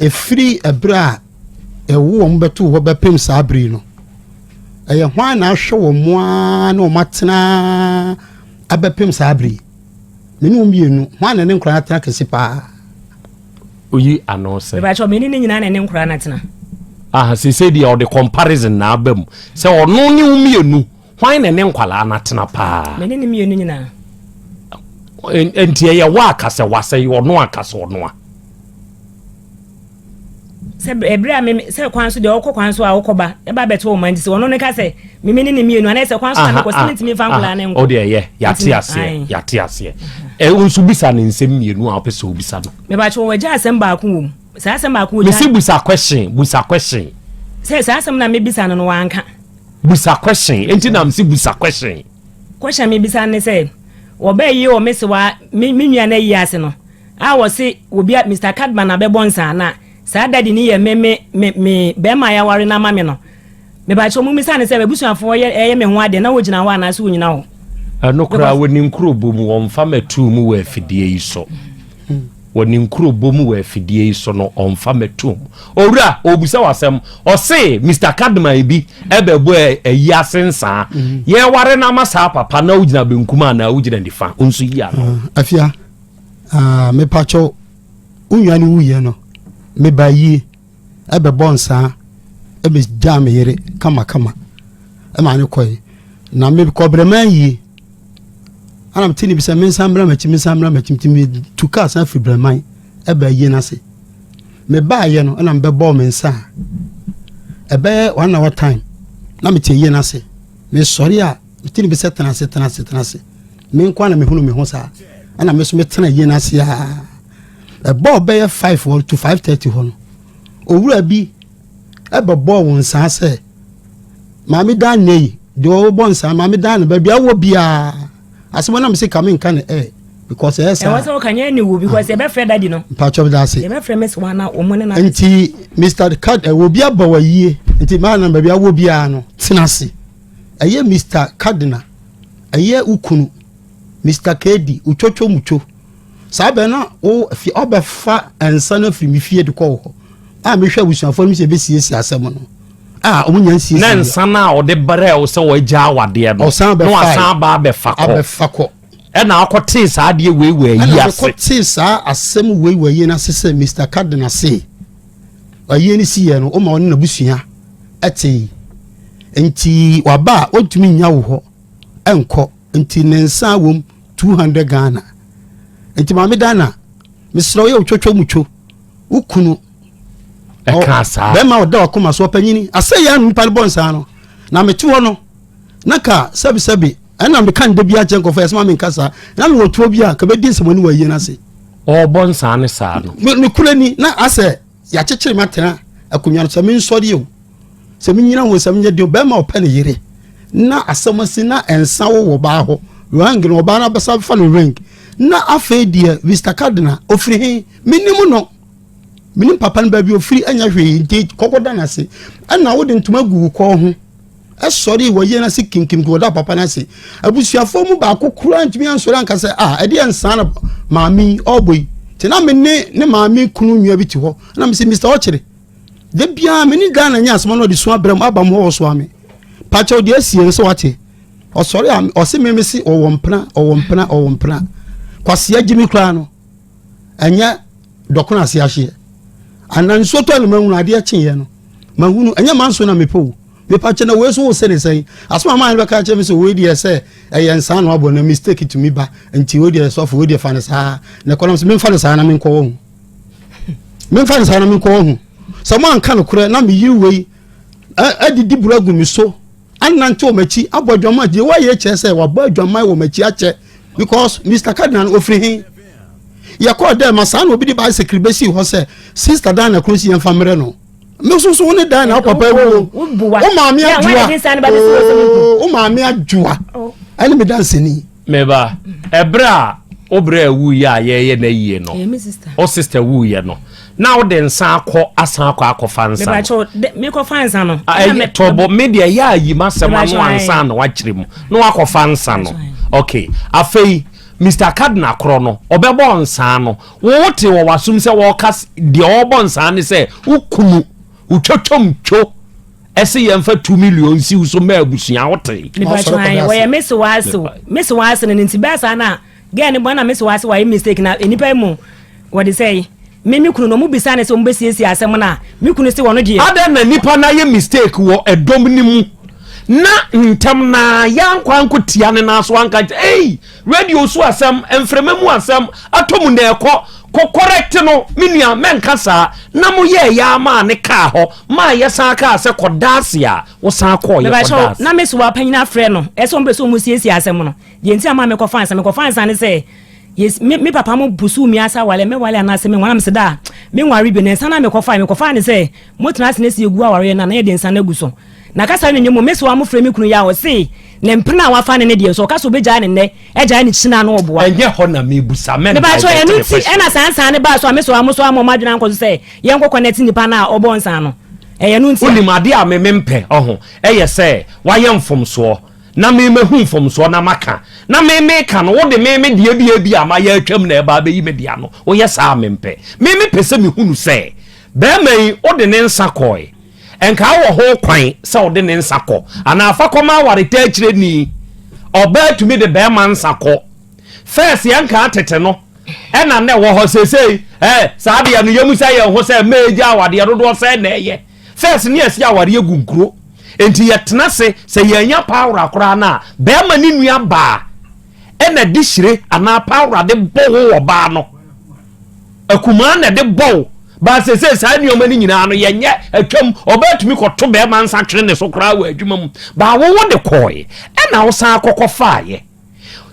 ɛfiri ɛberɛ a ɛwo wɔn bɛto hɔ bɛpem saa bere no ɛyɛ hwan na ahwɛ wɔn mo ara na wɔn atena abɛpem saa bere me ne wɔn mmienu hwan na ne nkoraa atena kɛse paa oyi ano sɛ ɛbɛkyɛ ɔmɛni ne nyinaa na ne nkoraa no atena aha sɛ sɛ deɛ ɔde comparison na aba mu sɛ ɔno ne wo mmienu Hwan na ne nkwadaa no atena paa? Me ne ne mmienu nyinaa. Nti ɛyɛ wo aka sɛ wasɛ yɛ ɔno aka sɛ ɔno a. sɛ ɛberɛ a meme sɛ kwan so deɛ ɔkɔ kwan so a wokɔba ɛba bɛte wo ma nti sɛ ɔno ne ka sɛ meme ne ne mmienu anaa sɛ kwan so na mekɔ sɛ mentumi mfa nkoraa ne nkɔ ɔdeɛ ɛyɛ yɛate aseɛ yɛate aseɛ ɛwo nso bisa ne nsɛm mmienu a wopɛ sɛ wobisa no mebakyɛ wɔagya asɛm baako wɔ mu saa asɛm baako wɔgya mesi busa question busa question sɛ saa asɛm na mebisa no no wanka Busa question. Enti na msi busa question. Question mi bisa ne sɛ, wɔbɛ yi wɔ me sewa me me nua na yi ase no, a wɔse obi a Mr Cadman na bɛbɔ nsa na saa daddy ni yɛ me me me me bɛɛma ya ware no ama me no. Me ba kyɛ ɔmo misa ne sɛ abusuafoɔ yɛ ɛyɛ me ho adeɛ na wɔ gyina hɔ anaase wɔ nyina hɔ. Ɛno koraa wɔ ni nkuro bɔ mu wɔn fa mɛ tuu mu wɔ afidie yi so. Wɔ ne nkurobɔ mu wɔ afidie yi so no, ɔmfa mɛ toom. Owura, ɔrebisa wo asɛm. Ɔse, Mister Kadmai bi bɛbɔ ayi ase nsaa. Yɛreware no ama saa papa na wogyina benkum anaa wogyina nifa? Wo nso yi ano. Afia, ah, mepakyɛw, wo nua no wuiɛ no, mebaa yie. bɛbɔ nsaa me gyaa me yere kama kama ɛma ne kɔe na me kɔbrɛ maa yie ana mete ne bi sɛ mensan mmra m'akyi mensan mmra m'akyi nti metu kaa san firi brɛman ɛbɛ yie no ase mebaayɛ no ɛna mebɛbɔɔ me nsa a ɛbɛyɛ one hour time na mete yie no ase mesɔre a mete ne bi sɛ tena ase tena ase tena ase menkɔ a na mehunu me ho saa ɛna me so metena yie no ase aa Ɛbɔɔ bɛyɛ five hɔ to five thirty hɔ no, owura bi bɛbɔɔ wɔn nsaa sɛ, Maame Dan nɛ yi, deɛ ɔrebɔ nsaa, Maame Dan no baabi a wɔ biara, asɛm ɔnam se ka me nka no ɛ, because ɛyɛ saa. Ɛwɔ sɛ ɔka nyɛ ne wu because yɛbɛfrɛ dadi no. Mpatsɔ bi da ase. Yɛbɛfrɛ Miss Wana wɔn ne na. Nti Mr. Kad ɛwɔ obi aba wɔ yie nti maa na baabi awɔ biara no tena ase. Ɛyɛ Mr. Kadena ɛyɛ ukunu Mr. Kedi utwotwo mutwo saa bɛn na wo fi ɔbɛfa nsa no afiri me fie de kɔ wo hɔ a mehwɛ abusuafoɔ no sɛ ɛbɛsiesie asɛm no a wɔn nya nsiesie na nsa no a ɔde brɛ wo sɛ wɔagya awadeɛ no ɔsan bɛfa na wasan aba abɛfa kɔ abɛfa kɔ ɛna akɔtee saa adeɛ wei wɔ ayi ase ɛna akɔtee saa asɛm wei wɔ ayi no ase sɛ Mr. Cardinal se ayie no si yɛ no woma ɔne n'abusua ɛtee nti waba a ɔntumi nya wo hɔ ɛnkɔ nti ne nsa wom two hundred ghana nti maame dana mesrɛ woyɛ wotwatwa mu two wo kunu ɛka saa bɛrima ɔda wakoma so ɔpanyini asɛ yɛ anu nipa no bɔ nsaa no na mete hɔ no na ka sɛbisɛbi ɛna meka no da bi akyɛ nkɔfɔ ɛsɛ ma menka saa na mewɔ tuo bi a kabɛdi nsɛmani wɔ ayie no ase ɔbɔ nsaa ne saa no ne kura ni na asɛ yɛakyekyere me atena akonnwa no sɛ mensɔre o sɛ menyina ho sɛ menyɛ deɛ bɛrima ɔpɛ ne yere na asɛm asi na ɛnsa wo wɔ baa hɔ ring no ɔbaa no abɛsa fa no ring na afei deɛ Mr. Cardinal ofiri he menim no menim papa no baabi ofiri ɛnyɛ hwee nti kɔkɔda no ase ɛna wode ntoma gu wo kɔɔ ho ɛsɔre wɔ yɛn ase kinkim kɔ ɔda papa no ase abusuafoɔ mu baako koraa ntumi ansɔre anka sɛ a ah, ɛdeɛ nsaa na maame yi ɔbɔ yi nti na me ne ne maame kunu nnua bi te hɔ na me sɛ mr ɔkyere da biara me ne ghana nyɛ asɛm na ɔde su abrɛ mu aba mu hɔ ɔsoa me pakyɛw deɛ asie no sɛ wate ɔsɔre a ɔse me me se ɔwɔ mpena ɔwɔ mpena ɔwɔ mpena kwaseɛ gye me koraa no ɛnyɛ dɔkono ase ahyeɛ ana nsuo tɔ no mahunu adeɛ kyeeɛ no mahunu ɛnyɛ manso na mepɛ o mepa kyɛ na wei so wo se ne sɛn asoma maa no bɛka kyɛ me sɛ wei deɛ sɛ ɛyɛ nsaa na wabɔ na mistake tumi ba nti wei deɛ sɔfo wei deɛ fa no saa na ɛkɔnam sɛ memfa no saa na menkɔwɔ ho memfa no saa na menkɔwɔ ho sɛ moanka no korɛ na meyere wei adidi buro agu me so Anantew m'akyi abɔ adwaman. Deɛ wɔayɛ kyerɛ sɛ wabɔ adwaman wɔ m'akyi akyɛ because Mr. Cardinal no ofiri he. Yɛkɔɔ dɛ ma saa na obi de bicycle bɛsii hɔ sɛ Sister Diana kuro si yɛmfa mmerɛ no. Me nso so wo ne Diana wo papa awu o. Wo maame adwoa oo wo maame adwoa ɛne me danseni. Me ba, ɛberɛ a wo brɛ wuiɛ a yɛreyɛ no ayie no, wo sista wuiɛ no, na wode nsa akɔ asan akɔ akɔfa nsa no. Mekɔfa nsa no. Tɔbɔ me deɛ yɛ a yi m'asɛm ano ansa na wakyerɛ mu na wakɔfa nsa no. Ok, afei Mr. Cardinal korɔ no ɔbɛbɔ nsa no, wo te wɔ w'asom sɛ wɔka deɛ ɔbɔ nsa ne sɛ wokunu wotwatwam two ɛsɛ yɛn fa two million si so mɛ abusua o te. nipa tí wọn yɛ wɔyɛ mesi wa ase o mesi wa ase no ne ti bɛɛ saa na gɛɛ ne bɔ na mesi wa ase wa yɛ mistake na nipa yi mu wɔde sɛ yi me me kunu no ɔmo bisa ne sɛ ɔmo bɛsiesie asɛm no a me kunu sɛ wɔn deɛ. adan na nipa na yɛ mistake wɔ ɛdɔm ne mu na ntɛm na yɛn ankɔ anko tia ne nan so anka ɛyi. Radio so asɛm, mframa mu asɛm, atɔ mu na ɛkɔ. Kɔ correct no, me nua, mɛnka saa. Na moyɛɛ yɛ ara maa ne kaa hɔ, maa yɛsan kaa sɛ kɔda ase a, wosan kɔɔ yɛ kɔda ase. Na me sowa panyin afrɛ no sɛ ɔmpɛ sɛ wɔsiesie asɛm no. Deɛ nti a ɛmaa mekɔfaa nsa, mekɔfaa nsa ne sɛ, yes, me, me papa mo busuu me ase awale, mɛwale anaasɛ menwale, na mese da a menware bio. Na nsa no a mekɔfae, mekɔfaa ne sɛ, motena ase na si agu awareɛ no a, na yɛde nsa no agu so. Na kasa no nni mu. Me soa mo frɛ me kunu Yah, ɔse ne mpena a wafa ne ne deɛ nso, ɔka sɛ ɔbɛgyae ne nnɛ, agyae ne kyina no ɔboa. Ɛnyɛ hɔ na mebusa, mɛmpae bɛte ne fasuo. Mepakyɛw, ɛno nti ɛna saa nsa no baa so a me soa mo soa mo a mo adwene ankɔ so sɛ yɛnkɔ kɔnɛte nipa no a ɔbɔɔ nsa no. Ɛyɛ ɛno nti a. Wonim, adeɛ a me mempɛ, ɔho, ɛyɛ sɛ wayɛ mfomsoɔ, na me mahu mfomsoɔ na maka, na me meka no, wode me me deɛ bi a ebi a mayɛ atwam na ɛba abɛyi me deɛ ano, woyɛ saa a mempɛ. Me mepɛ sɛ mehunu sɛ, barima yi, wode ne nsa kɔɔe. Nkaa wɔ ho kwan sɛ ɔde ne nsa kɔ anaa fa kɔma awaretaa kyerɛni. Ɔbaa tumi de bɛɛma nsa kɔ. First yɛn nkaa tete no ɛna na ɛwɔ hɔ sesei eh saa deɛ no yɛmusa yɛn ho sɛ mɛɛ gya awadeɛ dodoɔ sɛn na ɛyɛ. First ne yɛsi awareɛ gu nkuro nti yɛtena se sɛ yɛn anya paa wora koraa no a bɛɛma ne nua baa ɛna de hyire anaa pawra de bɔ wo wɔ baa no akumaa na de bɔ wo baa sese saa nneɛma no nyinaa no yɛnyɛ atwam ɔbaa tumi kɔto bɛrima nsa twene ne so koraa wɔ adwuma mu baa wo wo de kɔɔe ɛna wo san akɔkɔ faayɛ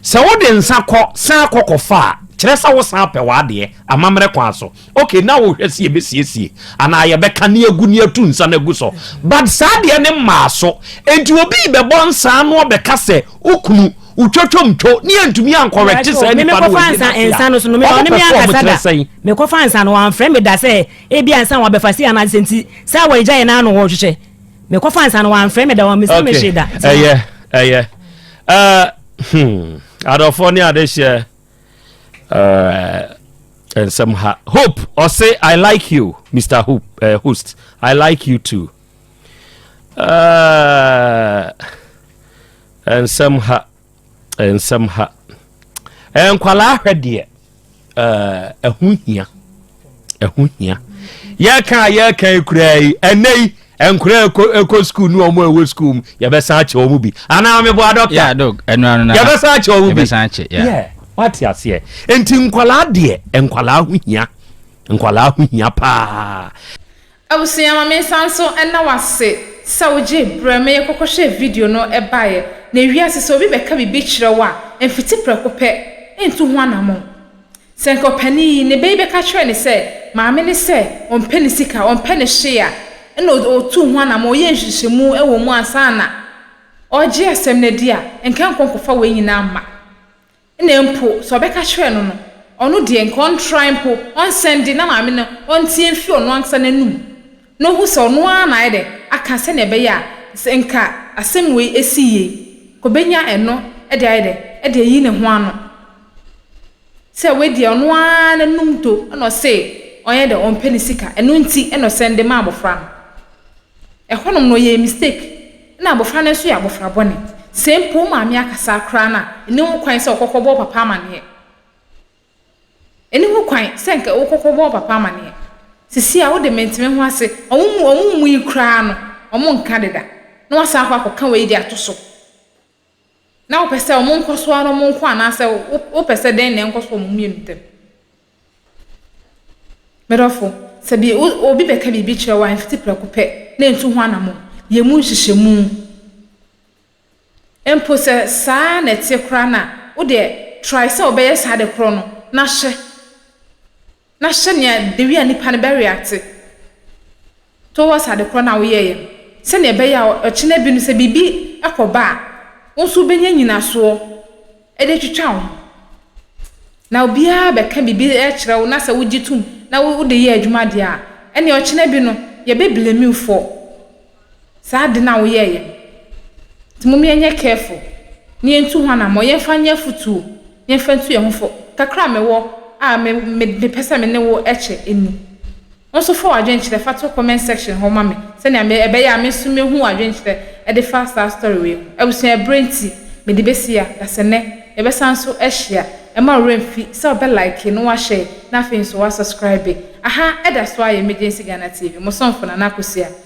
sɛ wo de nsa kɔ san akɔkɔ faa kyerɛ sɛ wo san apɛ w'adeɛ amammerɛ kwan so Okay na wo hwɛ se yɛ bɛ siesie anaa yɛ bɛ ka ne agu ne atu nsa no agu so but saa deɛ ne mmaa so enti obi bɛ bɔ nsa ano ɔbɛ ka sɛ wo kunu wo twotwom two ne yɛ ntumi an correct saa nipa no wɔ nsa nsa no so no me ɔne me ankasa da me kɔfa nsa no wɔn frɛ me da sɛ ebi ansa wɔn abɛfa si anaa sɛ nti sɛ wɔn gya yɛ n'ano wɔn hwehwɛ me kɔfa nsa no wɔn frɛ me da wɔn mesɛ me hwe da ɛyɛ ɛyɛ ɛɛ hmm adɔfoɔ ne adehyɛ. eh, nsɛm ha hope ɔse i like you mr hope uh, host i like you too uh, nsɛm ha nsɛm ha nkwalaa hwɛ deɛ ɛho hia ɛho hia yɛka a yɛka yi koraa yi ɛnɛ yi nkora ɛkɔ sukuu ne ɔmo ɛwɔ sukuu mu yɛbɛsan akyɛ ɔmo bi anaa mebɔ adɔkta yɛbɛsan akyɛ ɔmo bi yɛ wate aseɛ nti nkwalaa deɛ nkwalaa ho hia nkwalaa ho hia paa Abusua, ma mensan nso nna wo ase sɛ wogyee berɛ ma yɛkɔkɔhwɛɛ video no baeɛ. Na ɛwia ase, sɛ obi bɛka biribi kyerɛ wo a, mfiti prɛko pɛ ntu ho anammɔn. Sɛ anka ɔpanin yi, ne ba yi bɛka kyerɛɛ no sɛ, maame no sɛ ɔmpɛ ne sika, ɔmpɛ ne hwee a, ɛnna ɔtuu ho anammɔn, ɔyɛɛ nhwehwɛmu wɔ mu ansa na ɔregye asɛm no adi a, anka ankɔ nkɔfa wei nyinaa mma. Nna mpo sɛ ɔbɛka kyerɛɛ no no, ɔno deɛ nka ɔntrae mpo, ɔnsɛn de, na maame no ɔnteɛ mfi ɔno ankasa n'anum na ɔhu sɛ ɔno ara na ayɛ dɛ aka sɛdeɛ ɛbɛyɛ a sɛ nka asɛm wei ɛsi yie, ɔbɛnya ɛno de ayɛ dɛ de ayi ne ho ano. Sɛ wei deɛ ɔno ara n'anum tɔ na ɔse ɔnyɛ dɛ ɔmpɛ ne sika, ɛno nti na ɔsɛn de ma abɔfra no. Ɛhɔnom no ɔyɛɛ mistake. Nna abofra no so yɛ abofra bɔne. Sɛ mpo wo maame akasa koraa no a, nni ho kwan sɛ ɔkɔkɔbɔ wo papa amaneɛ. Nni ho kwan sɛ nka wokɔkɔbɔ wo papa amaneɛ. Sisi a wode mente me ho ase. Wɔn mu wɔn mu yi koraa no, wɔnka deda. Na woasan akɔ akɔka wei de ato so. Na wopɛ sɛ wɔnkɔ so ara na wɔnkɔ anaasɛ wopɛ sɛ dɛn na ɛnkɔ so wɔ wɔn mmienu ntam? Medɔfo, sɛ bi obi bɛka biribi kyerɛ wo a, mfiti prɛko pɛ na ntu ho anammɔn. Yɛ mu nhyehyɛmu. Mpo sɛ saa ara na ɛte koraa no a, wo deɛ, trae sɛ wobɛyɛ saa ade korɔ no na hyɛ. Na hyɛ nea the way a nipa no bɛ react towards ade korɔ no a woyɛeɛ no, sɛdeɛ ɛbɛyɛ a ɔkyena bi no sɛ biribi kɔ ba a, wo nso wobɛnya nyinasoɔ de atwitwa wo ho. Na obiara bɛka biribi kyerɛ wo na sɛ wogye tom na wode yɛ adwuma deɛ a, ɛnneɛ ɔkyena bi no, yɛbɛ blame you for. Saa ade no a woyɛeɛ no, nti mom yɛnyɛ careful na yɛntu ho anammɔn, yɛmfa nyɛ afotuo, yɛmfa ntu yɛn ho fo. Kakra a mewɔ a me me mepɛ sɛ me ne wo kyɛ ni. Wo nso fa w'adwenkyerɛ fa to comment section hɔ ma me sɛnea me ɛbɛyɛ a me nso mɛhu w'adwenkyerɛ de fa saa story wei ho. Abusua ɛberɛ nti mede bɛsi ha, dasɛnɛ yɛbɛsan nso ahyia. Mma wo werɛ mfi sɛ wobɛ like na wa share na afei nso wa subscribe. Aha ɛda so ara yɛ Emergency Ghana TV, mo somfo Nana Akosua.